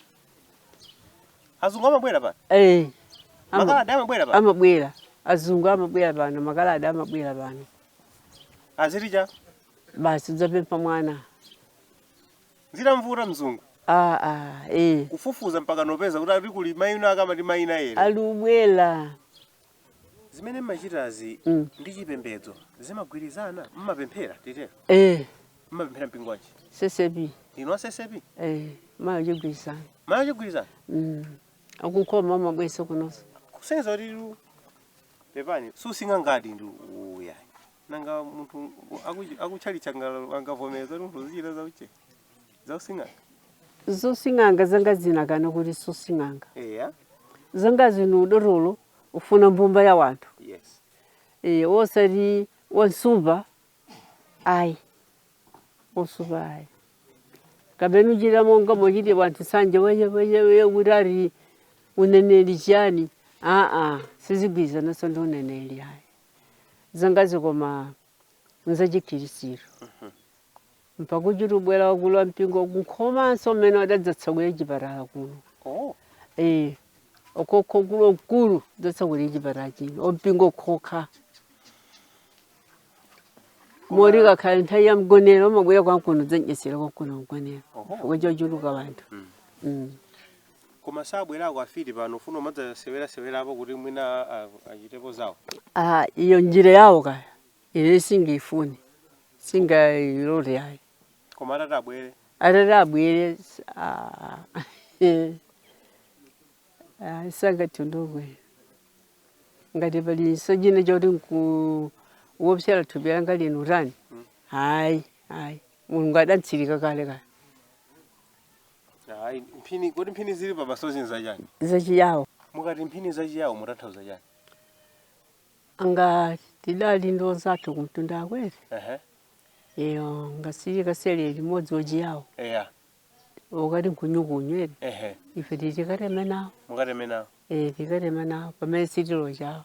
azungu amabwera pano Eh. ama- makaladi amabwera pano amabwera azungu amabwera pano makaladi amabwera pano azirija basi udzapempha mwana zitamvuta mzungu ah, ah, eh. kufufuza mpaka nopeza kuti ali kuli mayi ena ake amati mayi enaake alubwela zimene mmachitazi Mm. ndi chipembedzo zimagwirizana mmapemphera titero eh, mmapemphera mpingo wanji CCAP ndinu a CCAP eh, mai chigwirizano mai chigwirizano mm. akukhoma amabweranso kunonso kusonyeza kuti lu pepani sosing'anga ndi uya nanga munthu aku- akutchalitchi anga- angavomereza kuti munthu uzichita za uche- zausing'anga zosing'anga zanga zinakana kuti sosing'anga eya zanga zinu udotolo ufuna mbumba ya wanthu yes e, osati wansupa ayi wansupa ayi kapena uchita monga mochita wanthu sanje weyeweyeweye kuti ali uneneri chiyani aa sizigwirizananso ndi uneneri ayi zangazi koma nzachikhirisitu mpaka kuchita kubwera wakulu wa mpingo ku Nkhomanso mmene adadzatsegulira chipatala kuno Oh. Eh, akuluakulu mkulu dzatsegulira chipatala chino ompingo khokha moti ikakhala nthawi ya mgonero amabwera konkuno dzandidyetsera konkuno mgonero Oho. chifukwa chochuluka wanthu Mm. Koma sabwerako afiti pano kufuna kumadzasewera sewerapo kuti mwina achitepo zawo. Ah, iyo njira yawo kaya. Ine sindiifuna. Sindingailole yayi. Koma atati abwere. Atati abwere ah. Ah, sangandigwire. Ngati pali nsonjine choti nkuwopseza thupi langa lino ayi. Hmm. Hayi, hayi. Mulungu adanditsirika kale kale. Ayi, mphini kodi mphini zili pamasozi nzachani? zachiYawo Mukati mphini zachiYawo mukutanthauza chani? nanga tidali ndi onzathu kumtunda akwere Ehe. iwo ngathu tikasewere limodzi achiYawo Eya. akati nkunyukunyu ere Ehe. ife titi tikatema nawo Mukatema nawo. Eh, tikatema nawo pamene sitilo chawo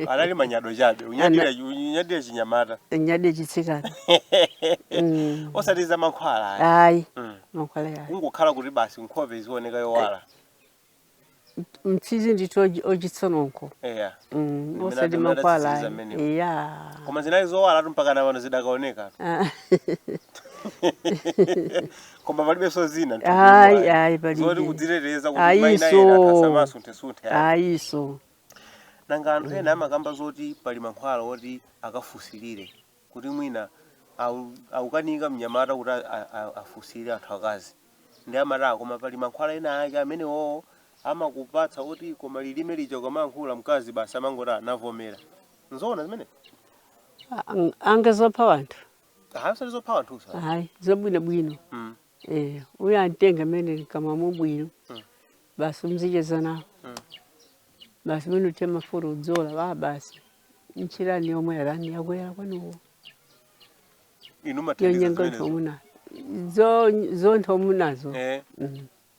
anali manyado chabe kunyadira kunyadira chinyamata nyadira chitsikana Mm. osati za mankhwala ayi. ayi Mm. mankhwala yayi kungokhala kuti basi nkhope izioneka yowala mtsizi ndithu ochi- ochitsa nkhope eya Mm, Ndimene osati adimira mankhwala tsitsi ayi zamenewo. eya koma zinali zowalatu mpaka napano zidakaoneka Ah, koma palibenso zina ayi mthupi ayi zoti palibe kudziteteza kuti Ayinso. mwina ena akasamasunthe-sunthe ayi. ayinso nanga anthu ena amakamba zoti pali mankhwala oti akafusilire kuti mwina au- akukanika mnyamata kuti a- a- a- afusilire anthu akazi ndi amanta koma pali mankhwala ena ake amene iwowo amakupatsa oti koma lilime lija ukamayankhula mkazi basi amangoti wavomera nzoona zimene Ang- nanga nzopha wanthu Aha, sizopha wanthu izo. hayi zobwino bwino Mm. eh uyo amtenge imene ikamamo bwino Mm. basi umzicheza nawo Mm. basi mene uthira mafuta udzola wa basi ntchilani yomwe yatani yakwera kwanuwo Inu matendiza yonyenga zimenezo. nthomuna zo zonthomunazo Eh. Mm.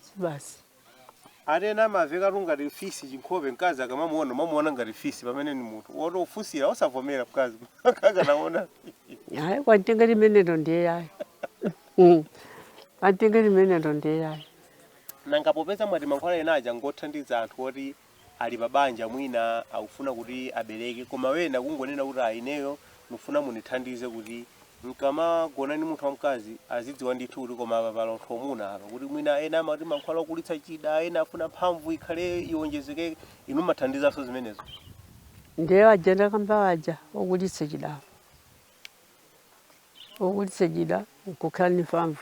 si basi atena amavekatu ngati fisi chinkhope mkazi akamamuona amamuona ngati fisi pamene ni munthu woti ufunsira osavomera mkazi akanaona hayi kwantenga imeneyo ndiye yayi Mm. kwantenga imeneyo ndiye yayi nanga popeza mwati mankhwala ena aja ngothandiza anthu oti ali pa banja mwina akufuna kuti abereke koma wena kungonena kuti ayi ineyo ndikufuna mundithandize kuti nkamagona ndi munthu wamkazi azidziwa ndithu kuti koma apa pali anthu omuna apa kuti mwina ena amati mankhwala okulitsa chida ena afuna mphamvu ikhale iwonjezeke inu mathandizanso zimenezo ndiye waja ndakamba waja okulitsa chida okulitsa chida nkukhala ndi mphamvu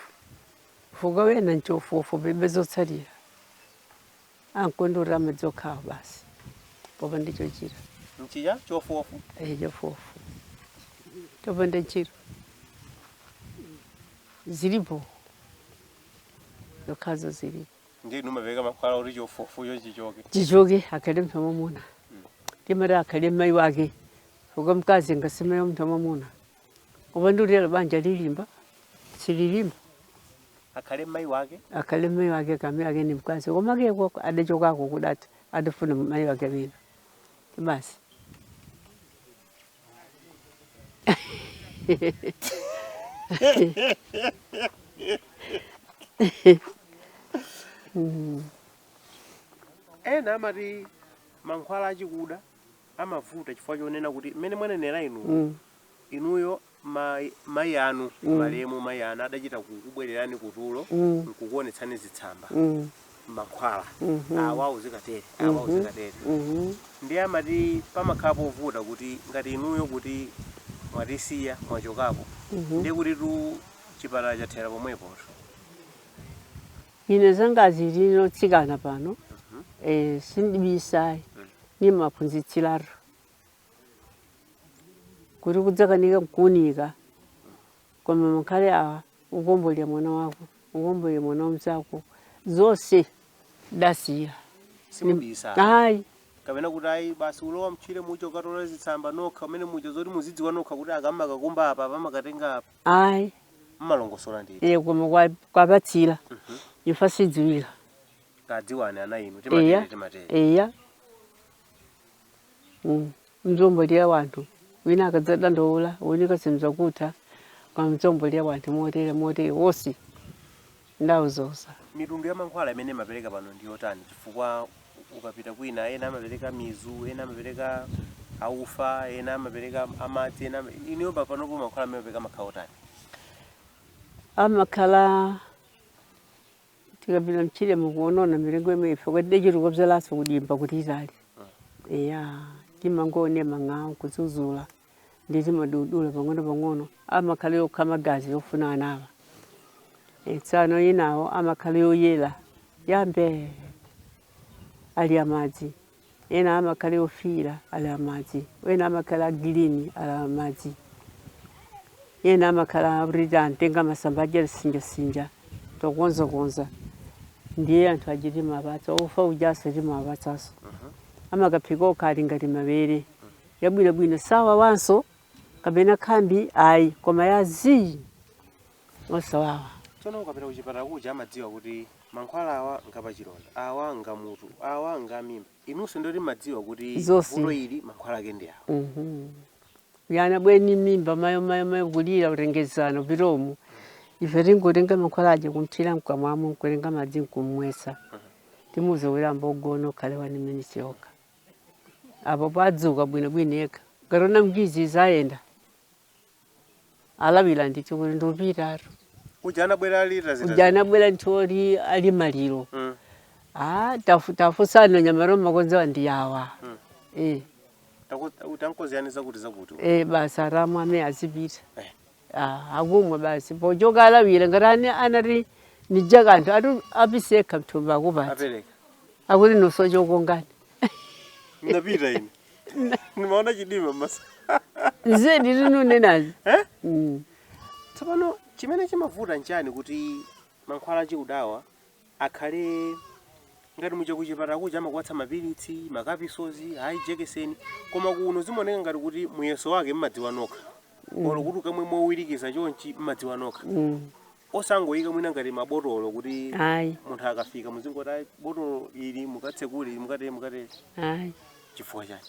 chifukwa wena nchofuofu palibe zotsatira angokodzera madzi okhawo basi popanda chochita mchija chofuofu ehe chofuofu chopanda ntchito zilipo zokhazo zilipo ndiye inu mmapereka mankhwala oti chofuofu chocho chichoke chichoke akhale mnthu wamwamuna ndimati akhale mayi wake chifukwa mkazi ngasimeye mnthu wamwamuna Kupanda ulelo banja lilimba sililimba. akhale mmayi wake akhale mmayi wake kamba wake ni mkazi kumake uko adachokako kudata adafuna mmayi wake wina basi ena amati mankhwala achikuda amavuta chifukwa chonena kuti mmene mwanenera inu mm. inuyo mai, mai anu mm. malemu mai anu adachita kukubwererani kutulo mm. nkukuonetsani zitsamba mm. mankhwala mm -hmm. awa uzikatere awa mm -hmm. uzikatere mm -hmm. ndiye amati pamakhala povuta kuti ngati inuyo kuti mwatisiya mwachokapo mm -hmm. ndiye kuti tu chipatala chathera pomwepoto Ine zanga zilino tsikana pano eh, sindibisayi nimaphunzitsiratu kuti kudzakanika kuunika koma mankhwala awa ukombolera mwana wako ukombolera mwana wa mzako zonse ndasiya Simubisa. ayi kapena kuti ayi basi ulowa mtchire mujo mukatola zitsamba nokha mmenemuja zoti muzidziwa nokha kuti akamakakumba apa amakatenga apa ayi mmalongosola ndi iye koma kwa- kupatsira imfa sidziwika tadziwani ana inu eya timatete timatete eya Mm. mzombolera wanthu wina akadzadandaula kuunika simzakutha kwa mzombolera wanthu motere motere wonse ndauzuza. Mitundu ya mankhwala imene mmapereka pano ndi otani chifukwa ukapita kwina ena amapereka mizu ena amapereka aufa ena amapereka amadzi ena inuyo pa- panopo mankhwala amene mmapereka amakhala otani amakhala tikapita mtchire mukuonona mitengo imene ife kuti tidachitako bzalanso kudimba kuti itali eya timangoona mmang'awo kuzuzula ndi zimadudula pang'ono-pang'ono amakhala okha magazi yofuna anawa Eh, tsono inawo amakhala oyera yambe ali amadzi ena amakhala ofiira ali amadzi ena amakhala agilini ali amadzi ena amakhala kuti antenga masamba aja tisinjasinja tikonzakonza ndiye anthu aja timawapatsa ufa ujanso timawapatsanso amakaphika okha ali ngati mabere yabwinobwino sawawanso kapena khambi ayi koma ya zii osawawa tsono ukapita kuchipatala kuja amadziwa kuti mankhwala awa ngapachilonda, awa ngamutu awa ngam'mimba inunso ndoti mmadziwa kuti Zonse. vuto ili mankhwala ake ndi awa Mhm. mwana bweni m'mimba mayo mayo mayo kulira kutengeza mopilomu ife tingotenga mankhwala aja nkumthira mkamwamo nkutenga madzi nkummwetsa timuuza kuti ayambe wagona kaye wani minisi yokha apo padzuka bwinobwino yekha akaona m'gizi zayenda alawira ndithu kuti ndikupitatu uja anabwera alira zita uja anabwera munthu oti ali maliro Mm. Ah, tafu- tafunsana nyamero makonzewa ndi awa Eh, Taku- utankoziyani zakuti zakuti eh, basi akamwa mene azipita Eh. Ah, akumwa basi pochoka alawira ngati ali anali ni kanthu ati apisa mthumba akupatsa apereka akuti niuzeni chokongani ndapita ine ndimaona chidima mmaso zedi tikunenazi Eh? Mm. tsopano chimene chimavuta nchani kuti mankhwala achikudawa akhale ngati muja kuchipatala kuja amakupatsa mapilitsi makapisozi kaya jekeseni koma kuno zimaoneka ngati kuti muyeso wake mmadziwa nokha olo kuti akamwe mowirikiza chonchi mmadziwa nokha osangoyika mwina ngati mabotolo kuti ayi munthu akafika muzingoti "Ayi, botolo ili mukatsekule ili mukatere mukatere ayi chifukwa chani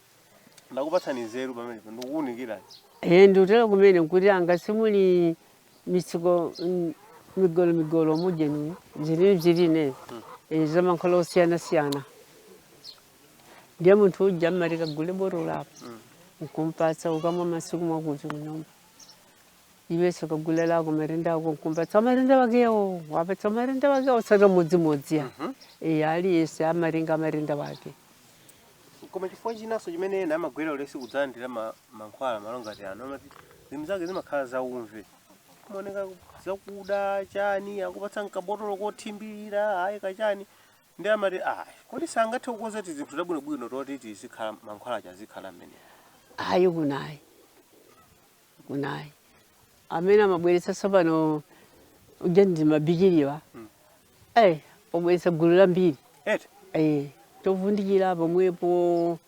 ndakupatsani nzeru pamenepo ndikukuunikirani Eh, ndikutero kumene kwathu anga simuli mitsiko mm, migolo migolo mujamu zilili zilili eh, zamankhwala osiyana siyana ndiye munthu uja mmati kagule botolo lako nkumpatsa ukamwa masiku akuti kunyumba iwenso kagule lako matenda ako nkumpatsa matenda wakewo wapatsa matenda wakewo osati modzimodzi ayi eh, aliyense amatenga matenda wake koma chifukwa chinanso chimene ena amagwirira ulesi kudzalandira ma- mankhwala malo ngati ano amati zinthu zake zimakhala zaumve kumaoneka zakuda chani akupatsa mkabotolo kothimbirira ayi kachani ndiye amati ayi kodi sangathe kukonza tizinthu tabwinobwino toti tizikhala mankhwala aja azikhala mmene ayi kunoyi kunayi amene amabweretsa tsopano uja ndi mabikiliwa eh wobweretsa gulu lambiri eti eh chovundikira pomwepo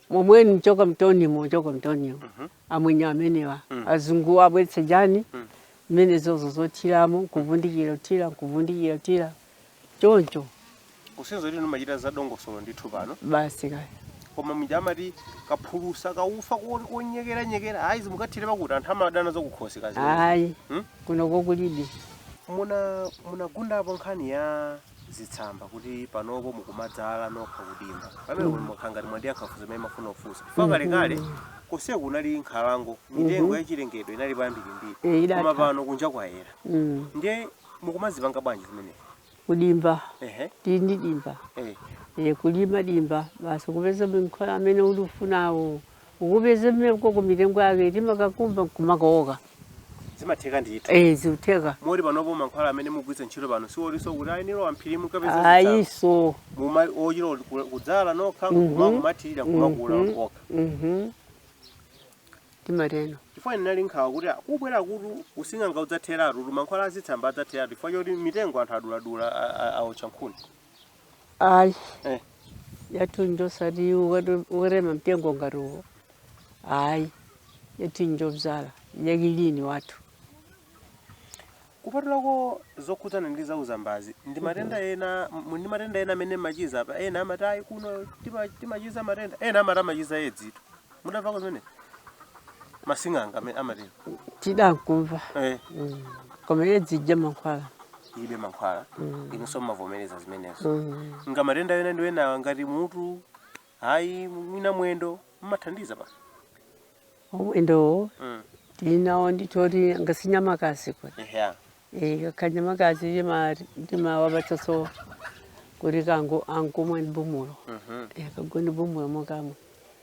momwe mchoka mtonimo choka mtonimo amwenye amenewa azungu abweretsa jani mmene zozo zothiramo nkuvundikira kuthira nkuvundikira kuthira choncho kusiyo tinu timachita za dongosolo ndithu pano basi kaya koma muja amati kaphulusa kaufa ko- konyekera nyekera ayi zimukathere pakuti anthu amadana zakukhosi kazi ayi Hmm? kuno kulibe muna munagundapo nkhani ya zitsamba kuti panopo mukumadzala nokha kudimba pamene mm. mukhala ngati mwandiyankha funso imene ndimafuna kufunsa chifukwa kalekale konse kunali nkhalango mitengo yachilengedwe inali yambirimbiri Eh, idatha. koma pano kunja kwayera Mm. ndiye mukumazipanga bwanji zimenezo kudimba ehe tili ndi dimba eh e, kulima dimba basi kupeza mankhwala amene ulikufunawo ukupeza mmenemo koko mitengo yake timakakumba nkumakawoka zimatheka ndithu e, zikutheka moti panopo mankhwala amene mugwiritsa ntchito pano sioti nso kuti ayenera wamphiri mukapeze zitsanzo. ayiso Muma- ochita kuti ku- kudzala nokha Mhm. kumakumathirira kumakula Mhm. okha Mhm. timatero. Chifukwa ndinali nkhawa kuti a, kubwera kuno kutu using'anga udzatheratutu, mankhwala azitsamba adzatheratu chifukwa choti mitengo anthu aduladula, a- a- aotcha nkhuni. Ayi, Eh. yathu njosati ukati- ukatema mtengo ngati uwo. Ayi, yathu njobzala, yakilini wathu. Kupatulako zokhudzana ndi zauzambazi, ndi matenda ena mu- ndi matenda ena amene mmachiza apa ena amati ayi kuno tima- timachiza matenda ena amati amachiza edzitu. Mudamvako zimene asing'anga amene amatero tidankamva eh, Mm. koma edzi ija mankhwala ilibe mankhwala Mm. inunso mmavomereza zimenezo Mm. nga matenda ena ndi enawa ngati mutu ayi mwina mwendo mmathandiza pa omwendowo mm. tili nawo ndithu oti ngati nyamakazi kuti yeah. e, eh, kanyamakazi timawapatsaso kuti kangu ankamwa ndi bumulo mm -hmm. e, eh, kagwa ndi bumulo mokamwa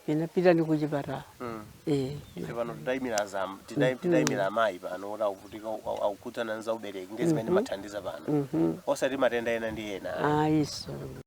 inapita ni kuchipatala mm. e, pano titaimira zam mm-hmm. titaimira amayi pano kuti akuvutika zokhudzana nza ubereki ndi zimene mm-hmm. mmathandiza pano mm-hmm. osati matenda ena ndi ena ayiso ah,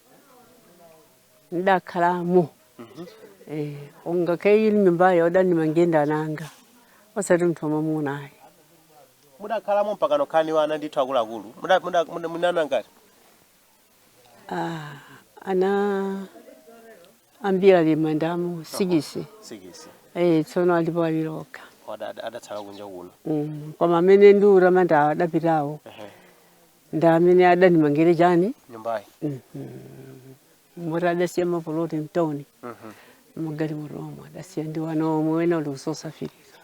ndakhalamo eh, ngakhale iyi nyumbayo adandimangira ndi ana anga osati munthu wamwamuna ayi mudakhalamo mpaka nokhani wana ndithu akuluakulu Muda- muda- muda- muna ana angati Ah, ana ambiri ali mmandamo sikisi sikisi eh, tsono alipo awiri okha Wada- ada- adatsala kunja kuno Mm, koma amene ndikuwatamanda adapitawo Ehe. ndi amene adandimangire chani nyumbayi moti adasiya mapoloti mtawuni magalimoto omwo adasiya ndi wana omwe wena uli kusosafirika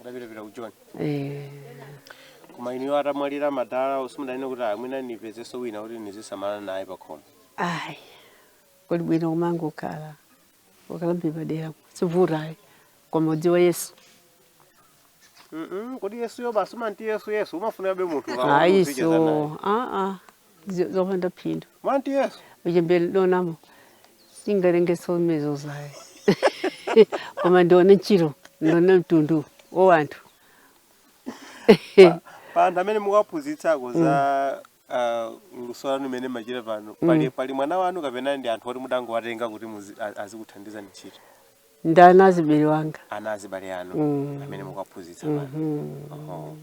adapitapita ku john Eh, koma inuyo atamwalira madala usimudanene kuti amwina nipezeso wina kuti nizisamalana naye pakhomo ayi kuli bwino kumangokhala ukalamba padera sivuta ayi koma udziwe yesu Mm-mm, kodi yesuyo basi umati yesu yesu umafunabe munthu ukaona ayi uzicheza so naye. aa zi- zopanda phindu mumati yesu uchembere dona mmm singalenge zomwezo ayi koma ndione ntchito ndione mtundu wa anthu pa anthu amene mukaphunzitsako za ah, luso lanu limene mumachita pano pali, pali mwana wanu kapena ndi anthu oti mudangowatenga kuti muzi- a- azikuthandizani ntchito ndi ana azibale anga ana azibale anu amene mukaphunzitsa pano Oho.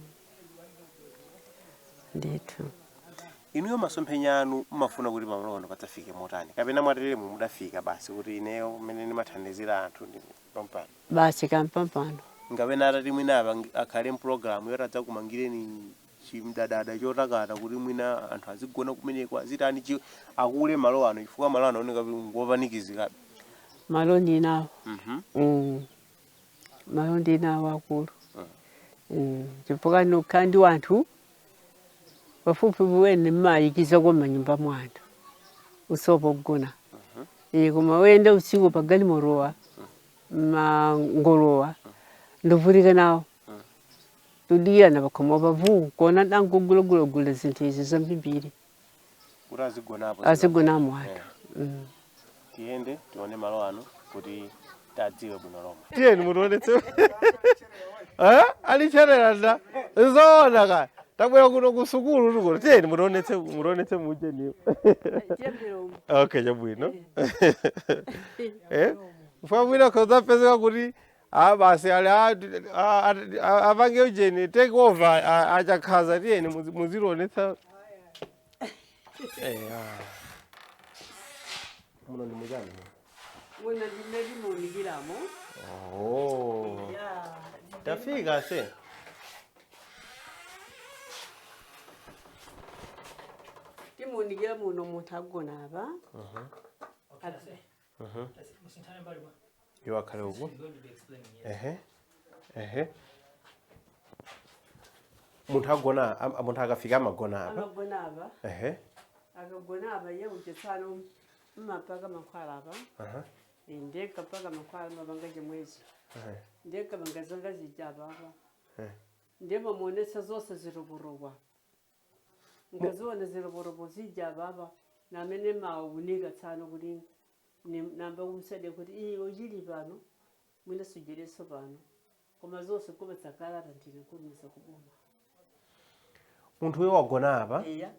ndithu inuyo masomphenya anu mumafuna kuti pamalo pano padzafike motani kapena mwateremu mudafika basi kuti ineyo mmene ndimathandizira anthu ndi pampano basi kapena atati mwina apangi- akhale mpulogalamu yoti adzakumangireni chimdadada chotakata kuti mwina anthu azigona kumeneko azitani chi akule malo ano chifukwa malo ano akuoneka kuti ngopanikizikabe malo ndinawo Mhm. Mm. malo ndinawo akulu Mm. chifukwa ndimakhala ndi wanthu pafupi ndiye ndimaikiza mmanyumba mwa anthu osowa pogona iye koma oyenda usiku pagalimotowa amangolowa ndipirire nawo tikudikirana pakhomo pavu kuona dangu gulogulogule zinthu izi zambiri kuti azigonapo azigonamo anthu Eh, Mm. tiyende tione malo ano kuti tadziwe bwino lomwe tiyeni mutionetse Eh? alichenjera nda zoona kaya tabwera kuno ku sukulu tikuti tiyeni mutionetse mutionetse mujeniyo okay chabwino Eh? mwamwina akazapezeka kuti Aaa basi ali a- a- a- a- apange ujeni take over a- a- achakhaza tiyeni muzi- muzitionetsa Eh, ah. muno ndi muchani Muno ndimmene ndimaunikiramo. oh. Yeah. tafika se Ndimaunikira muno munthu agona apa. Adzi- Mhm. Musinthane mbali bwana. Iwo akhale uku. I'm going to be explaining here. Ehe. Ehe. Munthu agona am- munthu akafika amagona apa. amagona apa Ehe. akagona apa iye kutsanso ndimapaka mankhwala apa Aha. Eh, ndikapaka mankhwala ndimapanga chimwechi Ehe. ndikapanga zanga zija apa apa Eh. ndiye ndimamuonesa zonse zitukutukwa ndikaziona ziloporopo zija apapa m'mene maunika tsano kuti ni- namba kumsade kuti iye uchili pano mwina sujereso pano koma zonse kupatsa kalata ndiye kutumiza kuboma munthu uyo wagona apa eya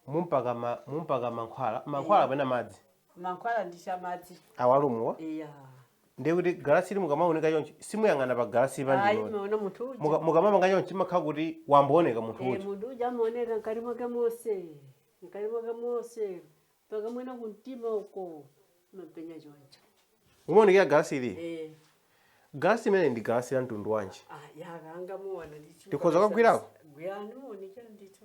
mumpaka ma- mumpaka mankhwala mankhwala kapena madzi mankhwala ndi chamadzi awa omuwa eya ndiye kuti galasi ili mukamaunika chonchi simuyang'ana pa galasi ayi pamene timaona munthu uja Muka- mukamapanga chonchi mumakhala kuti wayamba kuoneka munthu Eh, uja munthu uja amaoneka mkati mwake monse mkati mwake monse mpaka mwina kumtima uko amapenya choncho umaonekera galasi ili Eh, galasi limeneli ndi galasi la mtundu wanji ah, yaka angamuona ndicho Tikhoza kukagwirako? gwirani muonekera ndicho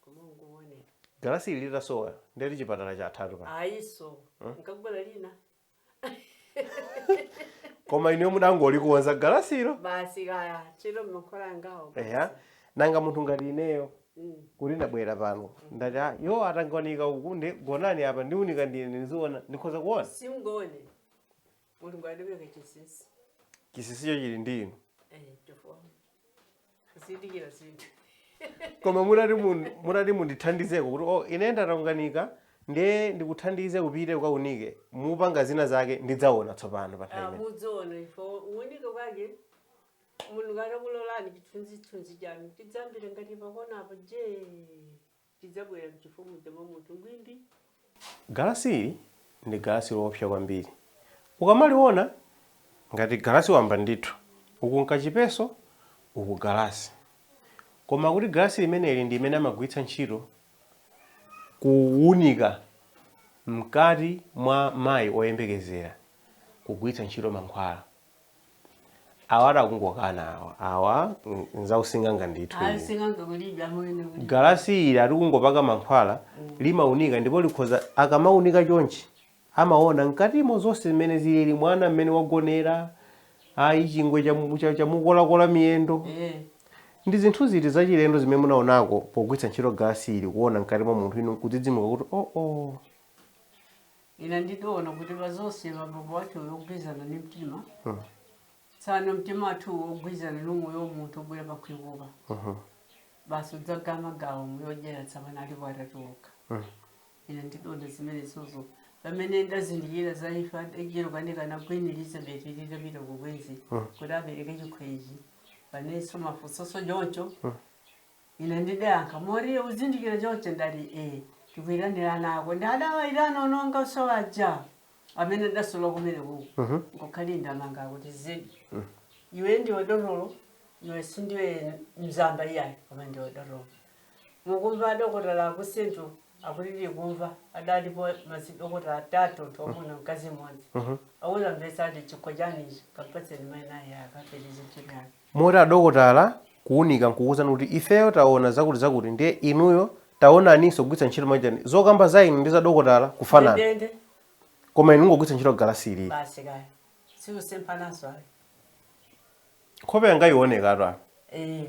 koma ungoone galasi ili litasowa ndiye kuti chipatala chathatu apa ayi iso likakubwera lina koma inuyo mudangolikonza galasilo basi kaya chero mmakhola angawo eya nanga munthu ngati ineyo Mm. kuti ndabwera pano ndati "Ah, iwo atandigoneka uku nde gonani apa ndiunika ndine ndiziona ndikhoza kuona simungaone mulungu alibe chinsinsi chinsinsicho chili ndi inu eh, chifukwa kuzindikira zinthu koma mutati mun- mutati mundithandizeko kuti oh, ine ndataunjikana ndiye ndikuthandize upite ukaunike mupanga zina zake ndidzaona tsopano pa nthawi imene mudziona ife kuunika kwake mulungu atakulolani chithunzithunzi chanu tidzajambule ngati pakonapo je Chidzabwera m'chifuwa muja mwa munthu ngwindi. Galasi ili ndi galasi loopsa kwambiri. Ukamaliona ngati galasi wamba ndithu, uku n'kachipeso uku galasi. Koma akuti galasi limeneli ndi limene amagwiritsa ntchito kuunika mkati mwa mayi oyembekezera kugwiritsa ntchito mankhwala. awa atakungokana awa awa mm, nzausing'anga ndithu ayi sing'anga kulibe amene kulibe galasi ili atikungopaka mankhwala limaunika ndipo likhoza akamaunika chonchi amaona mkatimo zonse zimene zilili mwana mmene wagonera ayi chingwe chamu- cha- chamukola-kola miyendo eh ndi zinthu ziti zachilendo zimene munaonako pogwiritsa ntchito galasi ili kuona mkati mwa munthu inu kudzidzimuka kuti oo oh, oh. ine ndidaona kuti pazonse mapapo wathu uyo ogwizana ni mtima Mm. tsano mtima wathu uwo ogwizana ni umoyo wa munthu obwera pakhwikupa Mhm. basi udzagama gawo moyo odyera tsamana alipo atatuluka Mm. ine ndidaona zimenezozo pamene ndazindikira zaifa ejero kanika na Queen Elizabeth litapita kukwenzi Mm. kuti apereke chikhwenzi panso mafunsoso choncho Mm. Ine ndidayankha, Moriye, uzindikira choncho? Ndati, E, tikuitanira ana ako. Ndi adawaitana ana angaso aja, amene ndidasiya kumenekoko, nkukhali ndamanga akuti zedi. Iwe ndiwe dotolo, iwe sindiwe mzamba iyayi, koma ndiwe dotolo. Mukumva adokotala aku Central akuti tikumva, adalipo mazidokotala atatu, anthu amuna, mkazi mmodzi. Akuzamvetsa ati chikho chani ichi, kampatseni mayi naye akapeze ntchito yake. Moti adokotala kuunika n'kukuuzani kuti ifeyo taona zakutizakuti ndiye inuyo taonaninso kugwiritsa ntchito machine zokamba za inu ndi za dokotala zikufanana ndendende koma inu mukungogwiritsa ntchito galasi ili. basi kaya sikusemphananso ayi Nkhope yanga ionekatu apa. Eh,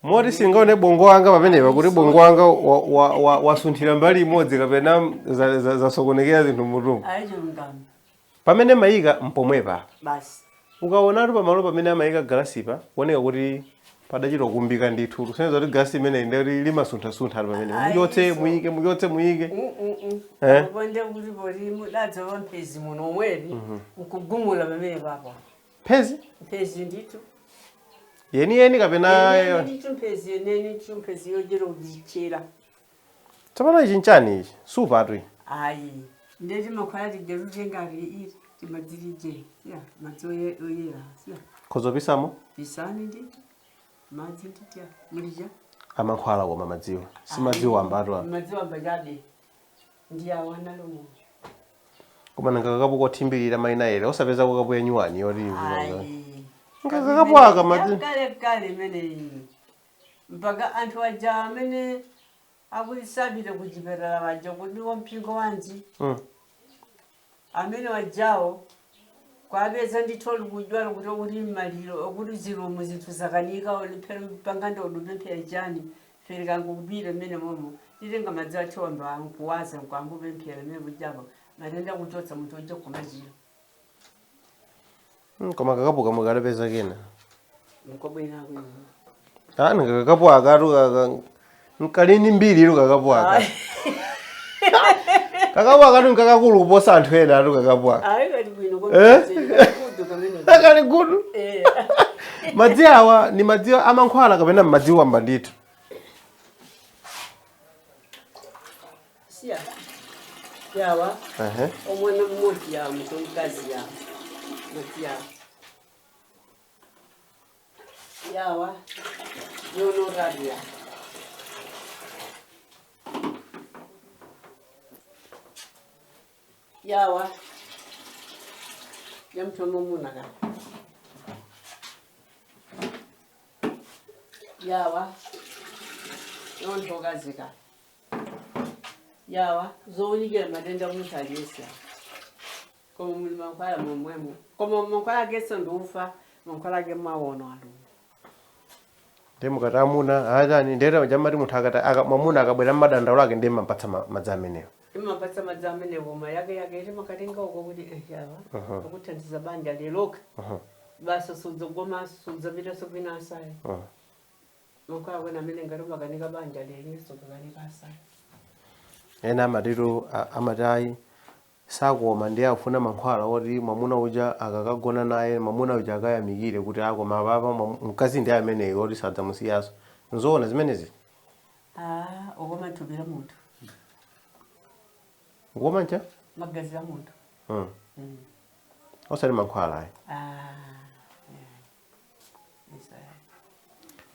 Moti singaone bongo wanga pamenepa kuti bongo wanga wa- wa- wa- wasunthira mbali imodzi kapena za- za- zasokonekera zinthu m'mutumu. ayi chilungamo Pamene mumaika mpomwepa apa. Basi. Ukaonatu pamalo pamene amaika galasipa kuoneka kuti padachita kukumbika ndithu. Kusonyeza kuti galasi limeneli ndiye kuti limasunthasuntha pamenepo. Ayi, Muchotse, so. muike, muchotse, muike. Mm-mm-mm. Eh? Ndipo ndiye kuti poti mudadzawa mphezi muno omwewu nkugumula pamenepapa. Mphezi? Mphezi ndithu. Yeniyeni kapena Yeniyeni ndithu mphezi yeniyeni ndithu mphezi yochera uzichera. tsopano ichi nchani ichi supatu iyi ayi ndiye timakhwala tija totengati iti timadzi ilije si madzi oye- oyera siya khozopisamo pisani nditi madzi nditya mulija amankhwala koma madziwa si madzi wambatu apa madzi wamba chabe ndi awo analomo koma nanga kakapu kothimbirira mayi nayere osapeza kakapu yanyuwani yoti ivuaa ayi Ngakakapu aka madzi- kale kale imeneyi mpaka anthu aja amene akuti sapite ku chipatala waja kuti wa mpingo wanji Mm. amene wajawo kuwapeza ndithu alikudwala kuti uli mmaliro okuti zilomo zinthu zakanika olipemphera pangana udupemphera chani tifika nkungopita mmene momo timatenga madzi athu wamba nkuwaza nkwangopemphera mmene kujapo matenda kuchotsa munthu uja kumachira Hmm, koma kakapu aka mukadapeza kena nkobwera kuno ani kakapu akatu aka kali ndi mbiri itu kakapu aka kakapu akatu nkakakulu kuposa anthu enatu kakapu aka ayi kali bwino Eh? kokudu kamene akali gudu Eh, madzi awa ni madzi amankhwala kapena madzi wamba ndithu siya yawa Ehe. omwana mmoti yawa muto mukazi yawa muti yawa yawa yonorabi yawa yawa yamtomo munaga yawa yontogazika awa zounikira matenda munthu aliyense koma muli mankhwala momwemo koma mankhwala akeso ndi ufa mankhwala ake mwaona alumu ndi mukati amuna atani ndiyeta cha mmati munthu akati aka- mwamuna akabwera ndi madandaulo ake ndiye mampatsa ma- madzi amenewo imapatsa madzi amene koma yake yake iti makatenga uko kuti eh, yawa Aha. akuthandiza banja liloka Aha, basi sudzogomaso sudzapitaso kwina ayi aha. Mukhala kwa ena amene ngati umakanika banja lili sukukanika asana. ena amatitu a- amati ayi sakoma ndiye akufuna mankhwala oti mwamuna uja akakagona naye mwamuna uja akayamikire kuti akoma apapa mwamu- mkazi ndi ameneyu oti sadzamusiyanso nzoona zimenezi Ah, kukoma thupi la munthu. kukoma ncha Magazi a munthu. mm. Mm. osati mankhwala ayi Ah.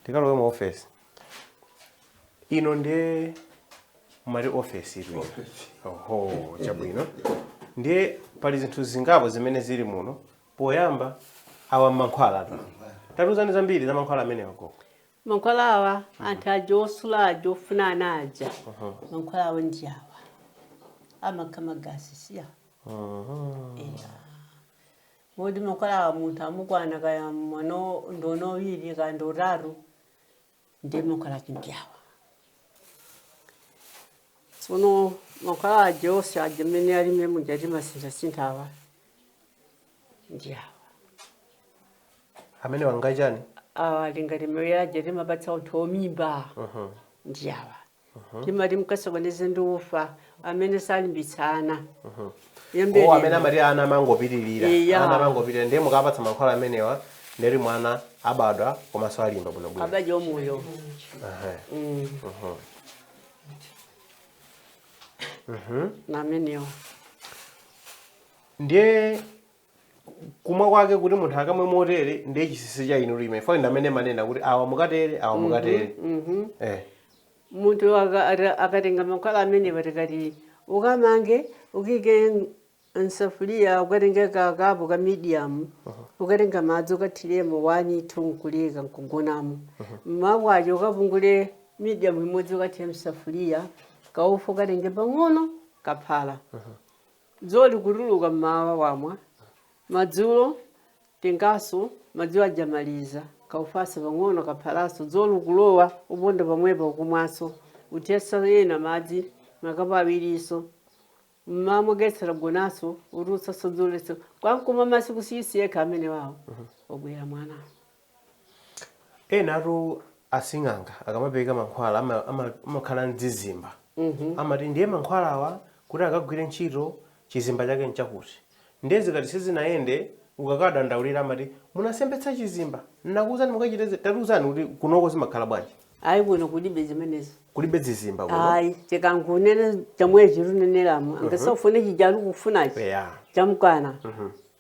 tikalowe mu office ino ndiye mumati office iri oho chabwino ndiye pali zinthu zingapo zimene zili muno poyamba awa mankhwala ta- tatiuzani zambiri za mankhwala amenewa koko mankhwala awa anthu aja osula aja ofuna ana aja mankhwala awa ndi awa amakha magasi siya Kodi mankhwala awa munthu amukwana kaya mwano ndono wiri kaya ndo utaru ndi mankhwala ake ndi awa tsono mankhwala aja onse aja mmene ali mmene muja timasinthasintha awa ndi awa amene wangachani awa ali ngati mmene aja timapatsa anthu omimba ndi awa Mhm. timati mkasokoneze ndi ufa amene salimbitsa ana mhm. o amene amati ana amangopitirira ana amangopitirira ndiye mukapatsa mankhwala amenewa nde kuti mwana abadwa komanso alimba bwinobwino abadwa omoyo mm. mhm. namenewo ndiye kumwa kwake kuti munthu akamwe motere ndiye chinsinsi cha inu lime fo ndi amene amanena kuti awa mukatere awa mukatere Mhm. eh munthu aka- ata- akatenga mankhwala amenewa tikati ukamange ukaike msafuliya ukatenge kakapo ka medium ukatenga madzi ukathiremo one two nkuleka nkugonamo mmawa kwacha ukapungule medium imodzi ukathire msafuliya kaufa ukatenge pang'ono kaphala Dzuwa likutuluka m'mawa wamwa, madzulo tenganso, madzi aja maliza, kaufanso pang'ono kaphalanso, dzuwa likulowa uponda pomwepa ukumwanso, uthetsa ena madzi, makapu awirinso, m'mawa mogetsa gonanso, utulutsanso dzuwa litha, kwa nkumwa masiku 6 yekha amenewawo wabwera mwana. enatu asing'anga akamapereka mankhwala ama- ama- amakhala ndi zizimba amati ndiye mankhwalawa kuti akagwire ntchito chizimba chake nchakuti ndiye zikati sizinayende ukakadandaulira amati munasemphetsa chizimba nakuuzani mukachite izi tatiuzani kuti kunoko zimakhala bwanji ayi kuno kulibe zimenezo kulibe zizimba kuno ayi chikangunene chamwe chiruneneramo angasafune chijalu kufunachi eya chamkwana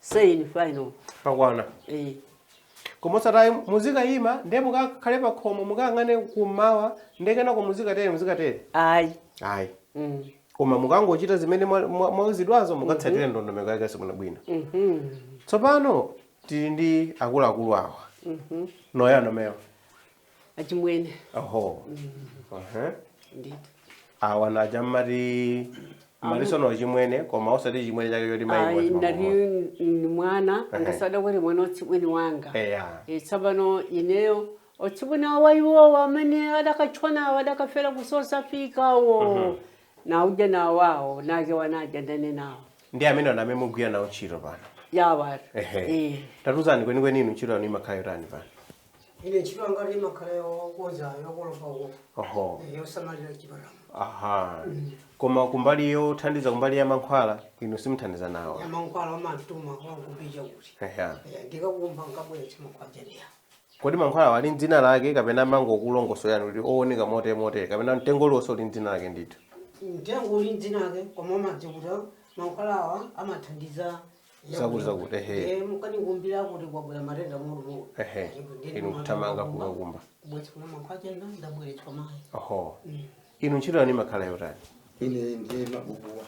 saying final pakwana eh koma osati muzikayima nde mukakhale pa khomo mukayang'ane kummawa nde kenako muzikatere muzikatere ayi ayi mm. koma mukangochita zimene mwa- mwa- mwauzidwazo mukatsatire ndondomeko yake basi bwinobwino mhm tsopano tili ndi akuluakulu awa ndani amenewa achimwene oho Aha. ndithu awa naja mmati Mariso ndi achimwene koma osati chimwene chake choti mayi ayi wati ndati mama. ni mwana angasada kuti mwana otsibweni wanga eya Eh, tsopano ineyo otsibweni awa iwowo amene adakatchwanawo adakafera kusosafikawo nauja nawawo nake wanga ndine nawo ndi amene ana amene mugwira nawo ntchito pano yawatu ehe Eh. tatiuzani kwenikweni inu ntchito yanu imakhala yotani pano ine ntchito yanga ndimakhala yokonza yokolopa uko oho eh, yosamalira chipatala aha koma kumbali yothandiza kumbali ya mankhwala inu simuthandiza nawo amankhwala amatuma ankundiuza kuti Eya. Eh, ndikakumva nkabweretsa mankhwala aja kodi mankhwala wa ali ndi dzina lake kapena amangokulongosolera kuti owoneka motere motere kapena mtengo uliwonse uli ndi dzina lake ndithu mtengo uli ndi dzina lake koma umadziwa kuti mankhwalawa amathandiza Zakuti, zakuti, ehe. Eh, mukandikumbire kuti kwabwera matenda mutu mutu Ehe. Inu kuthamanga kukakumba. bwezi kuna mwankho achenda ndabweretsa mayi oho inu ntchito yanu imakhala yotani ine ndiye mabukuwa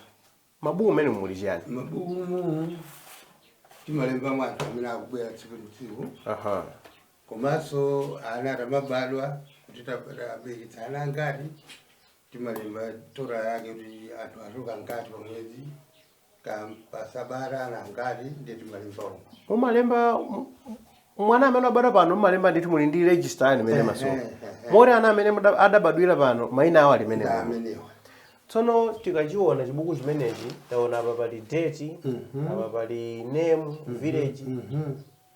mabuku amene muli chiyani mabukumu timalemba anthu amene akubwera tsiku ndi tsiku aha komanso ana akamabadwa kuti taberekitsa ana angati timalemba total yake kuti anthu achoka angati pamwezi Kaya pasabata ndi angati nde timalemba umu. mumalemba m- m- mwana amene wabadwa pano mumalemba ndithu muli ndi register yanu imene masowa Eh, eh, eh. moti ana amene muda- adabadwira pano mayina awo ali mmene Ndi amenewa. tsono tikachiona chibuku chimenechi taona apa pali date apa pali name village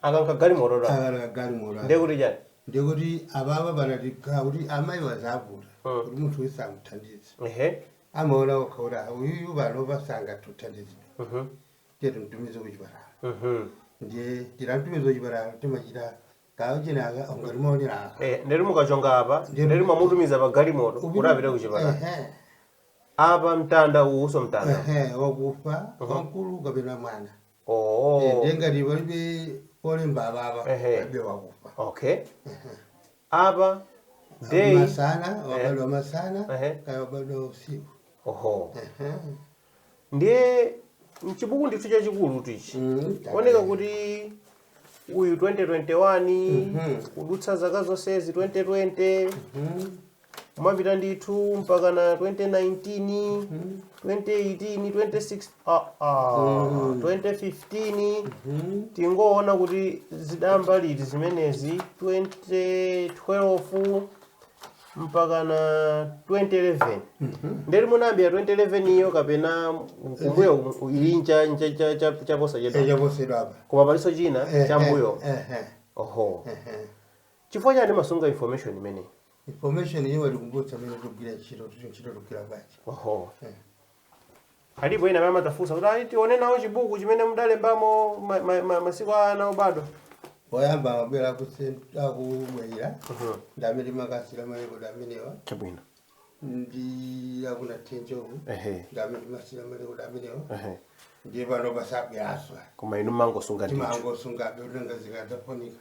akanga galimoto ta Aka kagalimoto. ndekuti chani Ndekuti ababa banati kuti amayi wazavuta. Mm. Kuti munthu yense amuthandize. ehe amaona okha kuti "Ah, uyuyu panopa sangathe kuthandizidwa Mhm. tiye timtumize kuchipatala Mhm. ndiye timamtumiza kuchipatala timachita kuchonga aka kuti tizionera aka Eh, ndiye mukachonga apa Ndiye- ndiye mwamutumiza pa galimoto kuti apite kuchipatala Ehe, apa mtanda uwunso mtanda ehe, wakufa wamkulu kapena mwana Oh. Eh, ndiye ngati palibe olemba apapa Ehe. palibe wakufa Okay. Apa day masana wabadwa masana Ehe. kaya wabadwa usiku oho. Ehe. Ndiye mchibuku ndithu chachikulu ichi. Mm, kuoneka kuti uyu 2021 kudutsa zaka zonsezi 2020 mhm. kumapita ndithu mpaka na 2019 2018 26 ah, ah, 2015 tingoona kuti zidayamba liti zimenezi 2012 mpaka na 2011 ndiye kuti munayambira 2011 iyo kapena kumbuyo ku- ili ncha- ncha- cha- cha- chaposa chedu echaposedwa apa koma palinso china Eh, chammbuyo eh, eh, oho eh, eh. chifukwa chani mumasunga information imeneyi information iyo yotikumbutsa mmene tikugwirira ntchito tucho ntchito tikugwira bwanji oho Eh. alipo ena amene amadzafunsa kuti ayi tione nawo chibuku chimene mudalembamo ma- ma- ma- masiku a ana obadwa oyamba amabwera akuse- akumwalira ndi amene timakasiira malekodi amenewa chabwino ndi akuna tenjovu ehe ndi amene timasiira malekodi amenewa ehe ndiye pano pasabweranso koma inu mumangosunga ndithu timangosungabe mwina zikadzafunika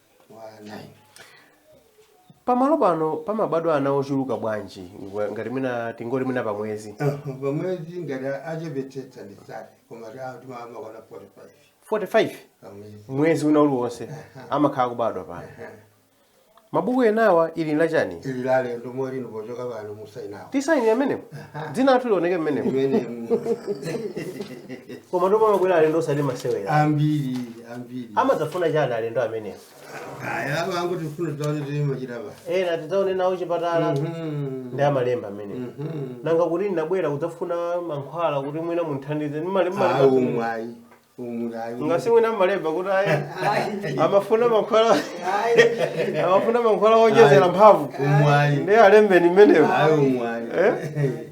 pamalo pano pamabadwa ana ochuluka bwanji ngwa- ngati mwina tingoti mwina pa mwezi pamwezi ngati achepetsetsa ndi sate koma timakwana 45 45 pamwezi mwezi wina uliwonse amakhala kubadwa pano mabuku enawa ili ndi lachani ili la alendo moti pochoka pano musainawo tisayinire mmenemo dzina lathu lioneke mmenemo imene koma ndipo pamabwera alendo osati masewera ambiri ambiri amadzafuna chani alendo amenewo aya apa angoti mfundo zawo tilimachita pa ena tidzaone nawo chipatala ndi amalemba mmenemo nanga kuti ndinabwera kudzafuna mankhwala kuti mwina munthandize ndi malemba ayi umwayi umulayi ngati mwina amalemba kuti ayi amafuna mankhwala amafuna mankhwala owonjezera mphamvu umwayi ndiye alembeni mmenemo ayi umwayi Eh?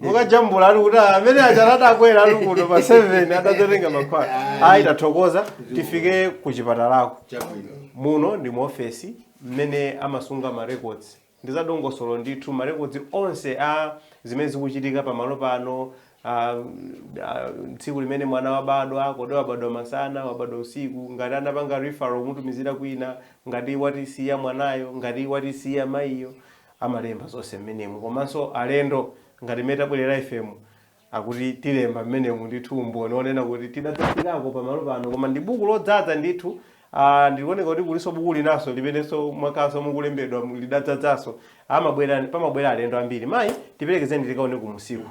mukajambula ali kuti amene aja adabwera ali kuno pa 7 adatenga mankhwala ayi tathokoza tifike ku chipatalako chabwino muno ndi mu ofesi mmene amasunga ma records ndi zadongosolo ndithu ma records onse a zimene zikuchitika pamalo pano ah, ah, tsiku limene mwana wabadwa kodi wabadwa masana wabadwa usiku ngati anapanga referral kumutumizira kwina ngati watisiya mwanayo ngati watisiya mayiyo amalemba zonse mmenemu komanso alendo ngati mmene tabwerera ifemo akuti tilemba mmenemu ndithu umboni onena kuti tidadzafikako pamalo pano koma ndi buku lodzadza ndithu Ah, zikuoneka kuti kulinso buku linanso limenenso mwakhalanso mukulembedwa lidadzadzanso amabwera pamabwera alendo ambiri mayi tiperekezeni tikaone kumsasa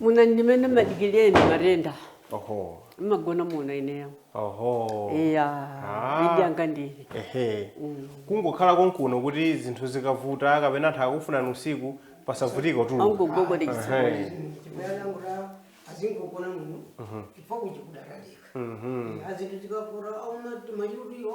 Muno ndimene amadikira eni matenda oho amagona muno ineyo oho iya Ah. maidi anga ndili ehe kungokhala konkuno kuti zinthu zikavuta kapena anthu akufunani usiku pasavutike kutuluka angogogoda chitsekochi chibwana mura azingogona muno chifukwa kuchikudaradika azinthu zikakura auna timachirudiyo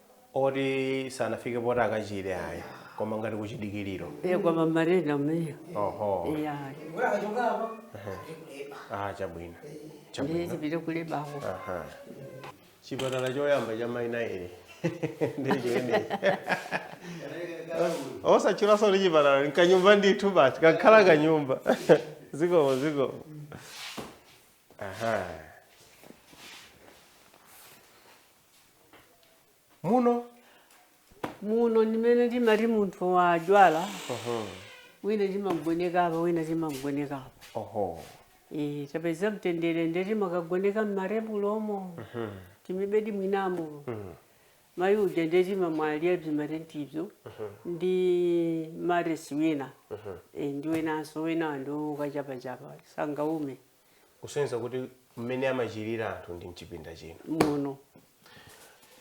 oti sanafike poti akachire ayi koma ngati kuchidikiriro e kwa mamarena meyo oho ya ah chabwino ndi chabwino tipite kulebako Aha. chipatala choyamba cha mai ili ndichene osatchulanso kuti chipatala nkanyumba ndithu basi kakhala kanyumba zikomo zikomo aha muno muno ndimene timati munthu wadwala wina timamgoneka apa wina timamgoneka apa oho Eh, tapeza mtendere nde timakagoneka mmarebulomo timibedi mwinamo mayi uja nde timamwalira timatentibzo ndi maresi wina Eh, ndi winanso wina ndo ukachapachapa sangaume kusonyeza kuti mmene amachirira anthu ndi mchipinda chino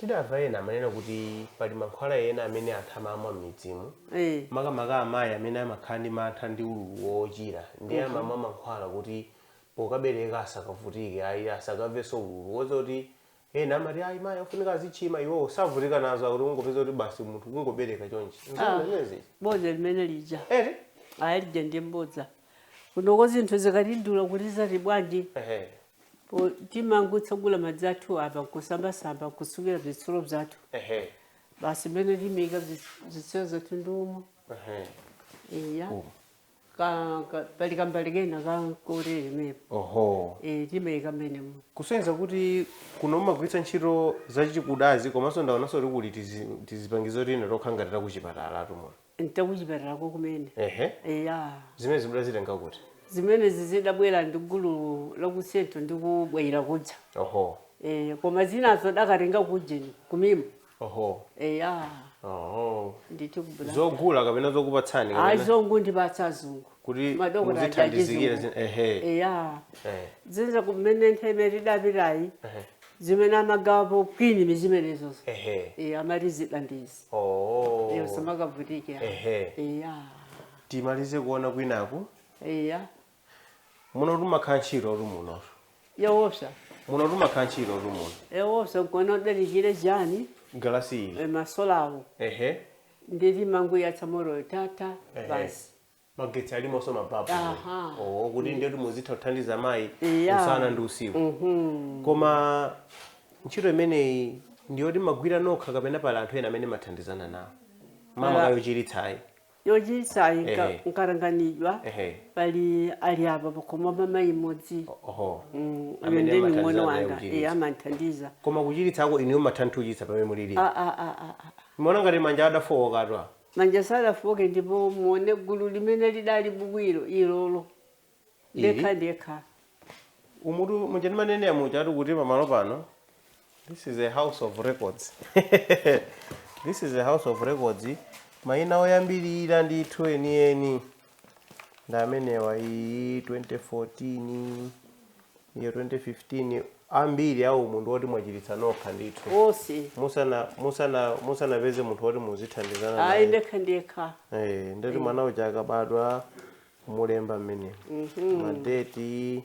tidamva ena amanena kuti pali mankhwala ena amene anthu amamwa m'midzimu eh makamaka amayi amene amakhala ndi mantha ndi ululu wochira ndi amamwa mankhwala kuti pokabereka asakavutike ayi asakavenso ululu zoti ena amati ayi mayi afunika azichilima iwo savutika nazo akuti ungopeza kuti basi munthu kungobereka chonchi Ah. nzimenezi bodza limene lija eti ayi lija ndi mbodza kunoko zinthu zikatidula kuti zati bwanji ehe po- timangotsegula madzi athu apa nkusambasamba nkusukira zitsulo zathu ehe basi mmene timiyika zitsulo zathu ndiumo ehe iya ka, ka, pali kambali kena ka kotere mepo oho e, timayika mmenemo kusonyeza kuti kuno mumagwiritsa ntchito zachikudazi komanso ndaonanso kuti kuli tizi- tizipangizo tina tokhala ngati takuchipatala tumwa ntakuchipatalako kumene ehe eya zimene mudazitenga kuti zimenezi zidabwera ndi gulu lakusento ndi kubwayira kudza oho e, koma zinazo dakatenga kujeni kumima oho eya oho ndithu ku blantyre zogula kapena zokupatsani ayi kapena zongondipatsa azungu kuti Madokotala muzithandizikire achizungu. zin- ehe eya Eh, zinza kumene nthawi imene tidapitayi ehe, zimene amagawapo kwini ndi zimenezozo ehe e, amati zidandizi oho iyo samakavutike ehe eya timalize kuona kwinaku eya muno tumakhala ntchito tu muno yowopsa muno timakhala ntchitotu muno yowopsa mkona udalichire chani galasi iyi eh, masolawo ehe ndili manguyatsa moroyo tata Ehe. basi magetsi alimonso mababu Aha. oh, kuti ndiyoti muzitha kuthandiza mayi Iya. usana ndi usiku Mhm. koma ntchito imeneyi ndiyoti mumagwira nokha kapena pali anthu ena amene mumathandizana nawo mama Ala. kayochiritsayi yochititsayi nka- Ehe. nkatanganidwa Ehe. pali ali apa pakhomo pa mayi mmodzi oho Mm, uyo Amene ndeni amathandiza mwana naye wanga kuchiritsa. iye amandithandiza koma kuchiritsako inuyo mathanthuyitsa pamene mulili Ah, ah, ah, ah, ah. mona ngati manja adafowokatwa manja sadafooke ndipo muone gulu limene lidali bwino ilolo ndekha ndekha umutu muja ndimanenera muja ati kuti pamalo pano this is a house of records this is a house of records mayina oyambirira ndithu enieni ndi amenewa iyi 2014 iyo 2015 ambiri awo munthu woti mwachiritsa nokha ndithu osi musana musana musanapeze munthu woti muzithandizana ayi naye ndekha ndekha Eh, ndati mwana uja akabadwa kumulemba mmene madeti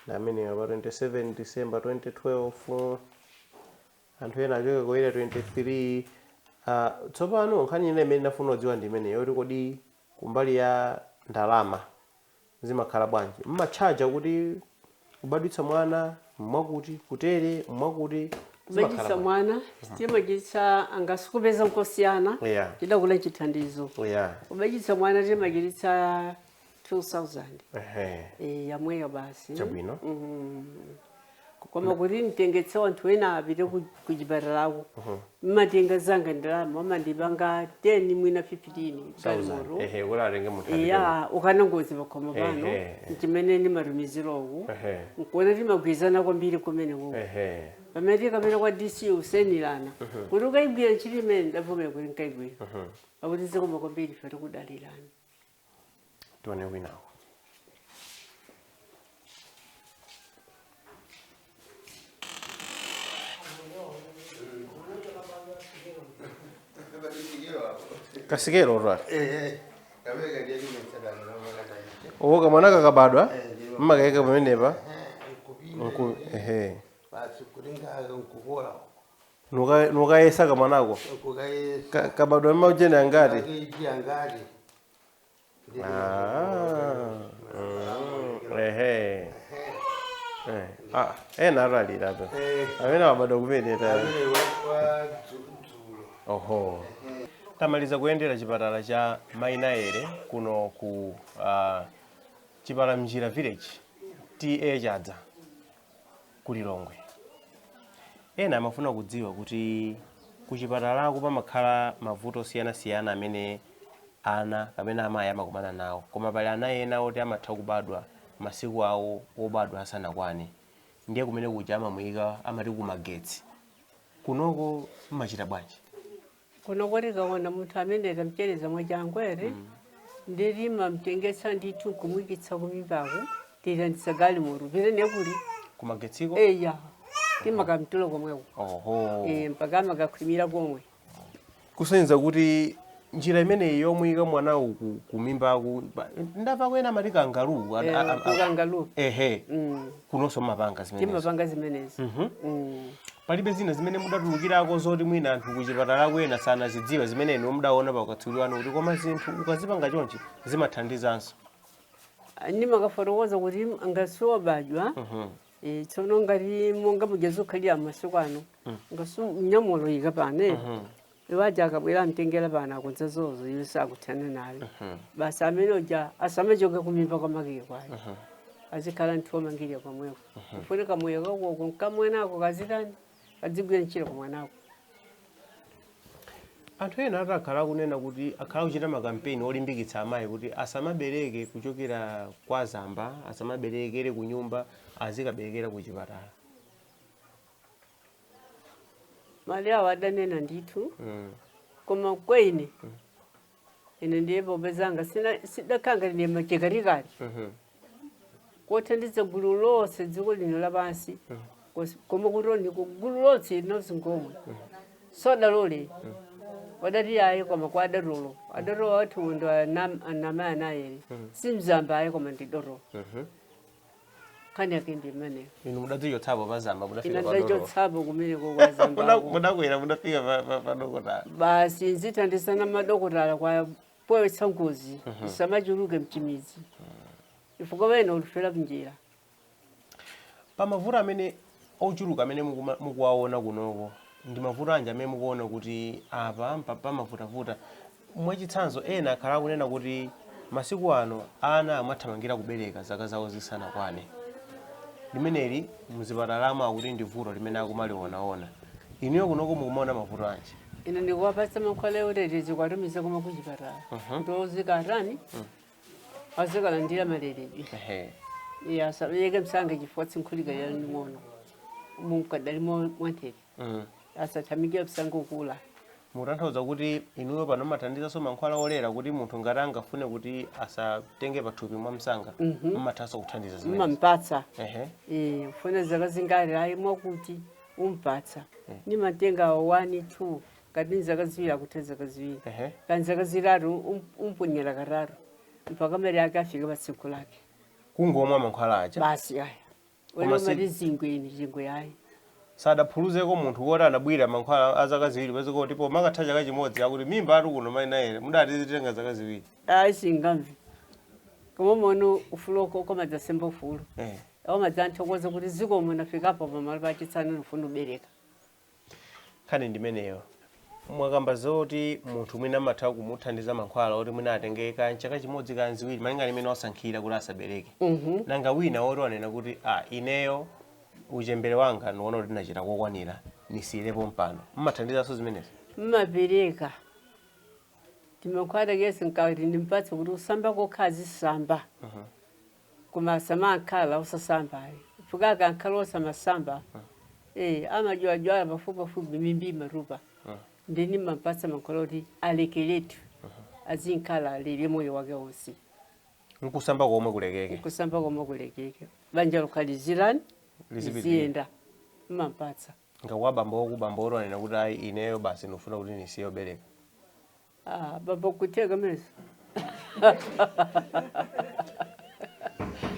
ndi amenewa pa 27 december 2012 anthu ena achoka ku area 23 Ah, tsopano nkhani ina imene ndafuna kudziwa ndi imene yoti kodi kumbali ya ndalama zimakhala bwanji mmatchaja kuti kubadwitsa mwana mwakuti kutere mwakuti kubadwitsa mwana mhm. timachiritsa angasukupeza nkosiyana yeah. chidakula nchithandizo yeah. kubadwitsa mwana timachiritsa 2000 eh, yamweyo basi chabwino mm -hmm. koma kuti mtengetse wanthu ena apite kuchipatalako mmatenga zingati ndalama amandipatsa 10 mwina 15 galimoto ehe kuti atenge munthu atenge iya ndikukana ngozi pakhomo pano Ehe. nchimene ndimatumizira uku Ehe. nkuona timagwirizana kwambiri kumene uku ehe pamene tikapita kwa dc kusainirana kuti ukayigwire ntchito imene ndavomera kuti nkayigwira akuti zikoma kwambiri ife tikudalirani tione winawo kasikelo katuwo kamwana kakabadwa mmakaika pamenepa nku ehe basi kulinga nkukula Nuka- nukayesa kamwanako Ka- kukayesa kabadwa ndi maujeni angati makeji angati Ndi- Ah, mm, ehe Eh, ah, ena atalira pe Eh, amene wabadwa kumene ta amene wa- wa dzu- dzulo oho tamaliza kuyendera chipatala cha mainayere kuno ku uh, chipalamnjira village ta chadza ku Lilongwe. Ena amafuna kudziwa kuti kuchipatalako pamakhala mavuto osiyanasiyana amene ana kapena amayi amakumana nawo, koma pali ana ena oti amatha kubadwa masiku awo obadwa asanakwane, ndiye kumene kuja amamuyika amati kumagetsi. Kunoko mumachita bwanji? kuno kuti tikaona munthu amene tamchereza mwachangu timamtengetsa ndithu nkumwikitsa kumimbaku tilandiza galimoto pena kuli kumagetsiko eya timakamtula komweko oho Eh, mpaka amakakhwimira komwe kusonyeza kuti njira imeneyi yomuyika mwana uku kumimbaku ndapako ena amati kangaru Eh, kangaru ehe Mm. kunonso mumapanga zimenezo timapanga zimenezi Mm. palibe zina zimene mudatulukirako zoti mwina anthu kuchipatala kwena sanazidziwa zimene inu mudaona pakatswiri wanu kuti koma zinthu ukazipanga chonchi zimathandizanso nkumakafotokoza kuti ngati wabadwa eh, tsono ngati monga muja zokhalira masiku ano ngati nyamulo yika pane Iwo aja akabwera amtengera pano akonza zozo iwe sakuthana naye. Mhm. Basi amene uja asamachoke kumimba kwa make kwaye. Mhm. Azikhala ndithu omangirira komweko. Mhm. Kufunika moyo wako uko nkamwenako kazitani kadzigwira ntchito komwenako. anthu ena ati akhala akunena kuti akhala akuchita makampeni olimbikitsa amayi kuti asamabereke kuchokera kwa azamba asamaberekere ku nyumba azikaberekera ku chipatala mawu awo adanena ndithu mm. koma kwa ine mm. ine ndiye bobe zanga sidakhanga ndine machekarikali mm -hmm. kothandiza gulu lonse dziko lino lapansi mm. koma kutoni gulu lonse linonse ngomwe mm. sodalole mm. adati ayi koma kwa adotolo adotolo athu ndo amanena ayi mm. simzamba ayi koma ndi dotolo mm -hmm. nkhani yake ndi imeneyo inu mudatichotsapo pazamba mudafika pa dotolo ine ndidachokapo kumeneko Muda- kwazambako mudakwera mudafika pa- pa- pa dokotala basi nzithandizana madokotala pa poyesetsa ngozi isamachuluke m'midzi chifukwa ena amafera mnjira pa mavuto amene ochuluka amene mukuma- mukuwaona kunoko ndi mavuto anji amene mukuona kuti apa mpa- pamavutavuta Mwachitsanzo, ena akhala akunena kuti masiku ano ana amathamangira kubereka zaka zawo zisanakwane. Limeneli m'zipatalamo akuti ndi vuto limene akumalionaona. Inuyo kunoko mukumaona mavuto anji? Ine ndikuwapatsa mankhwala achitetezo kuwatumiza komwe kuchipatala kuti azikatani azikalandira maleredwe Ehe. iye asabereke msanga chifukwa msinkhu ukadali waung'ono mukadali mwanthete mm. asathamangire msanga kukula mutanthauza kuti inuyo pano mumathandizanso mankhwala olera kuti munthu ngati angafune kuti asatenge pathupi mwa msanga Mhm. mmathanso kuthandiza zimene mmampatsa ehe Eh, ufuna zaka zingati ayi mwakuti umpatsa nimatenga wani two kani ni zaka ziwiri akutha zaka ziwiri ehe kani zaka zitatu um- umponyera katatu mpaka malire ake afike pa tsiku lake kungomwa mankhwala aja basi aja Koma wena si- umati zingwe ndi zingwe yayi sadaphuluzeko munthu woti anabwira mankhwala a zaka ziwiri mwezi kuti pomakatha chaka chimodzi akuti mimba atu kuno mayi nayere mudati zitenga zaka ziwiri ayi singamve koma mono ufulu wako ukamadzasemba ufulu Eh. akamadzathokoza kuti zikomo nafikapo pamalo pachitsano ndifuna kubereka nkhani ndimeneyo mwakamba zoti munthu mwina amatha kumuthandiza mankhwala oti mwina atenge kaya chaka chimodzi kaya ziwiri malinga ndi mmene wasankhira kuti asabereke nanga wina woti wanena kuti a ineyo uchembere wanga ndiona kuti ndinachita kokwanira ndisiyirepo pompano mmathandizanso zimenezo mmapereka timankhwala kesi nkati ndimpatse kuti kusamba kokha azisamba koma samakhala osasamba ayi chifukwa akakhala osamasamba eh, amadwaladwala pafupipafupi mimba imatupa ndi ndimampatsa mankhwala oti alekeretu azikhala alili moyo wake wonse nkusamba komwe kulekeke kusamba komwe kulekeke banja lokalizirani Lizipitira. liziyenda mmampatsa nanga kwa abambo kwa bambo woti anena kuti ayi ineyo basi ndikufuna kuti ndisiye kubereka Ah, bambo kutheka manje.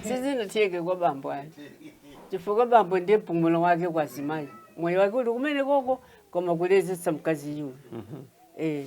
Sizinatheke kwa bambo ayi. Chifukwa bambo ndiye mpumulo wake kwa zimayi. Moyo wake uli kumene koko koma kulezesa mkazi uyo. Eh.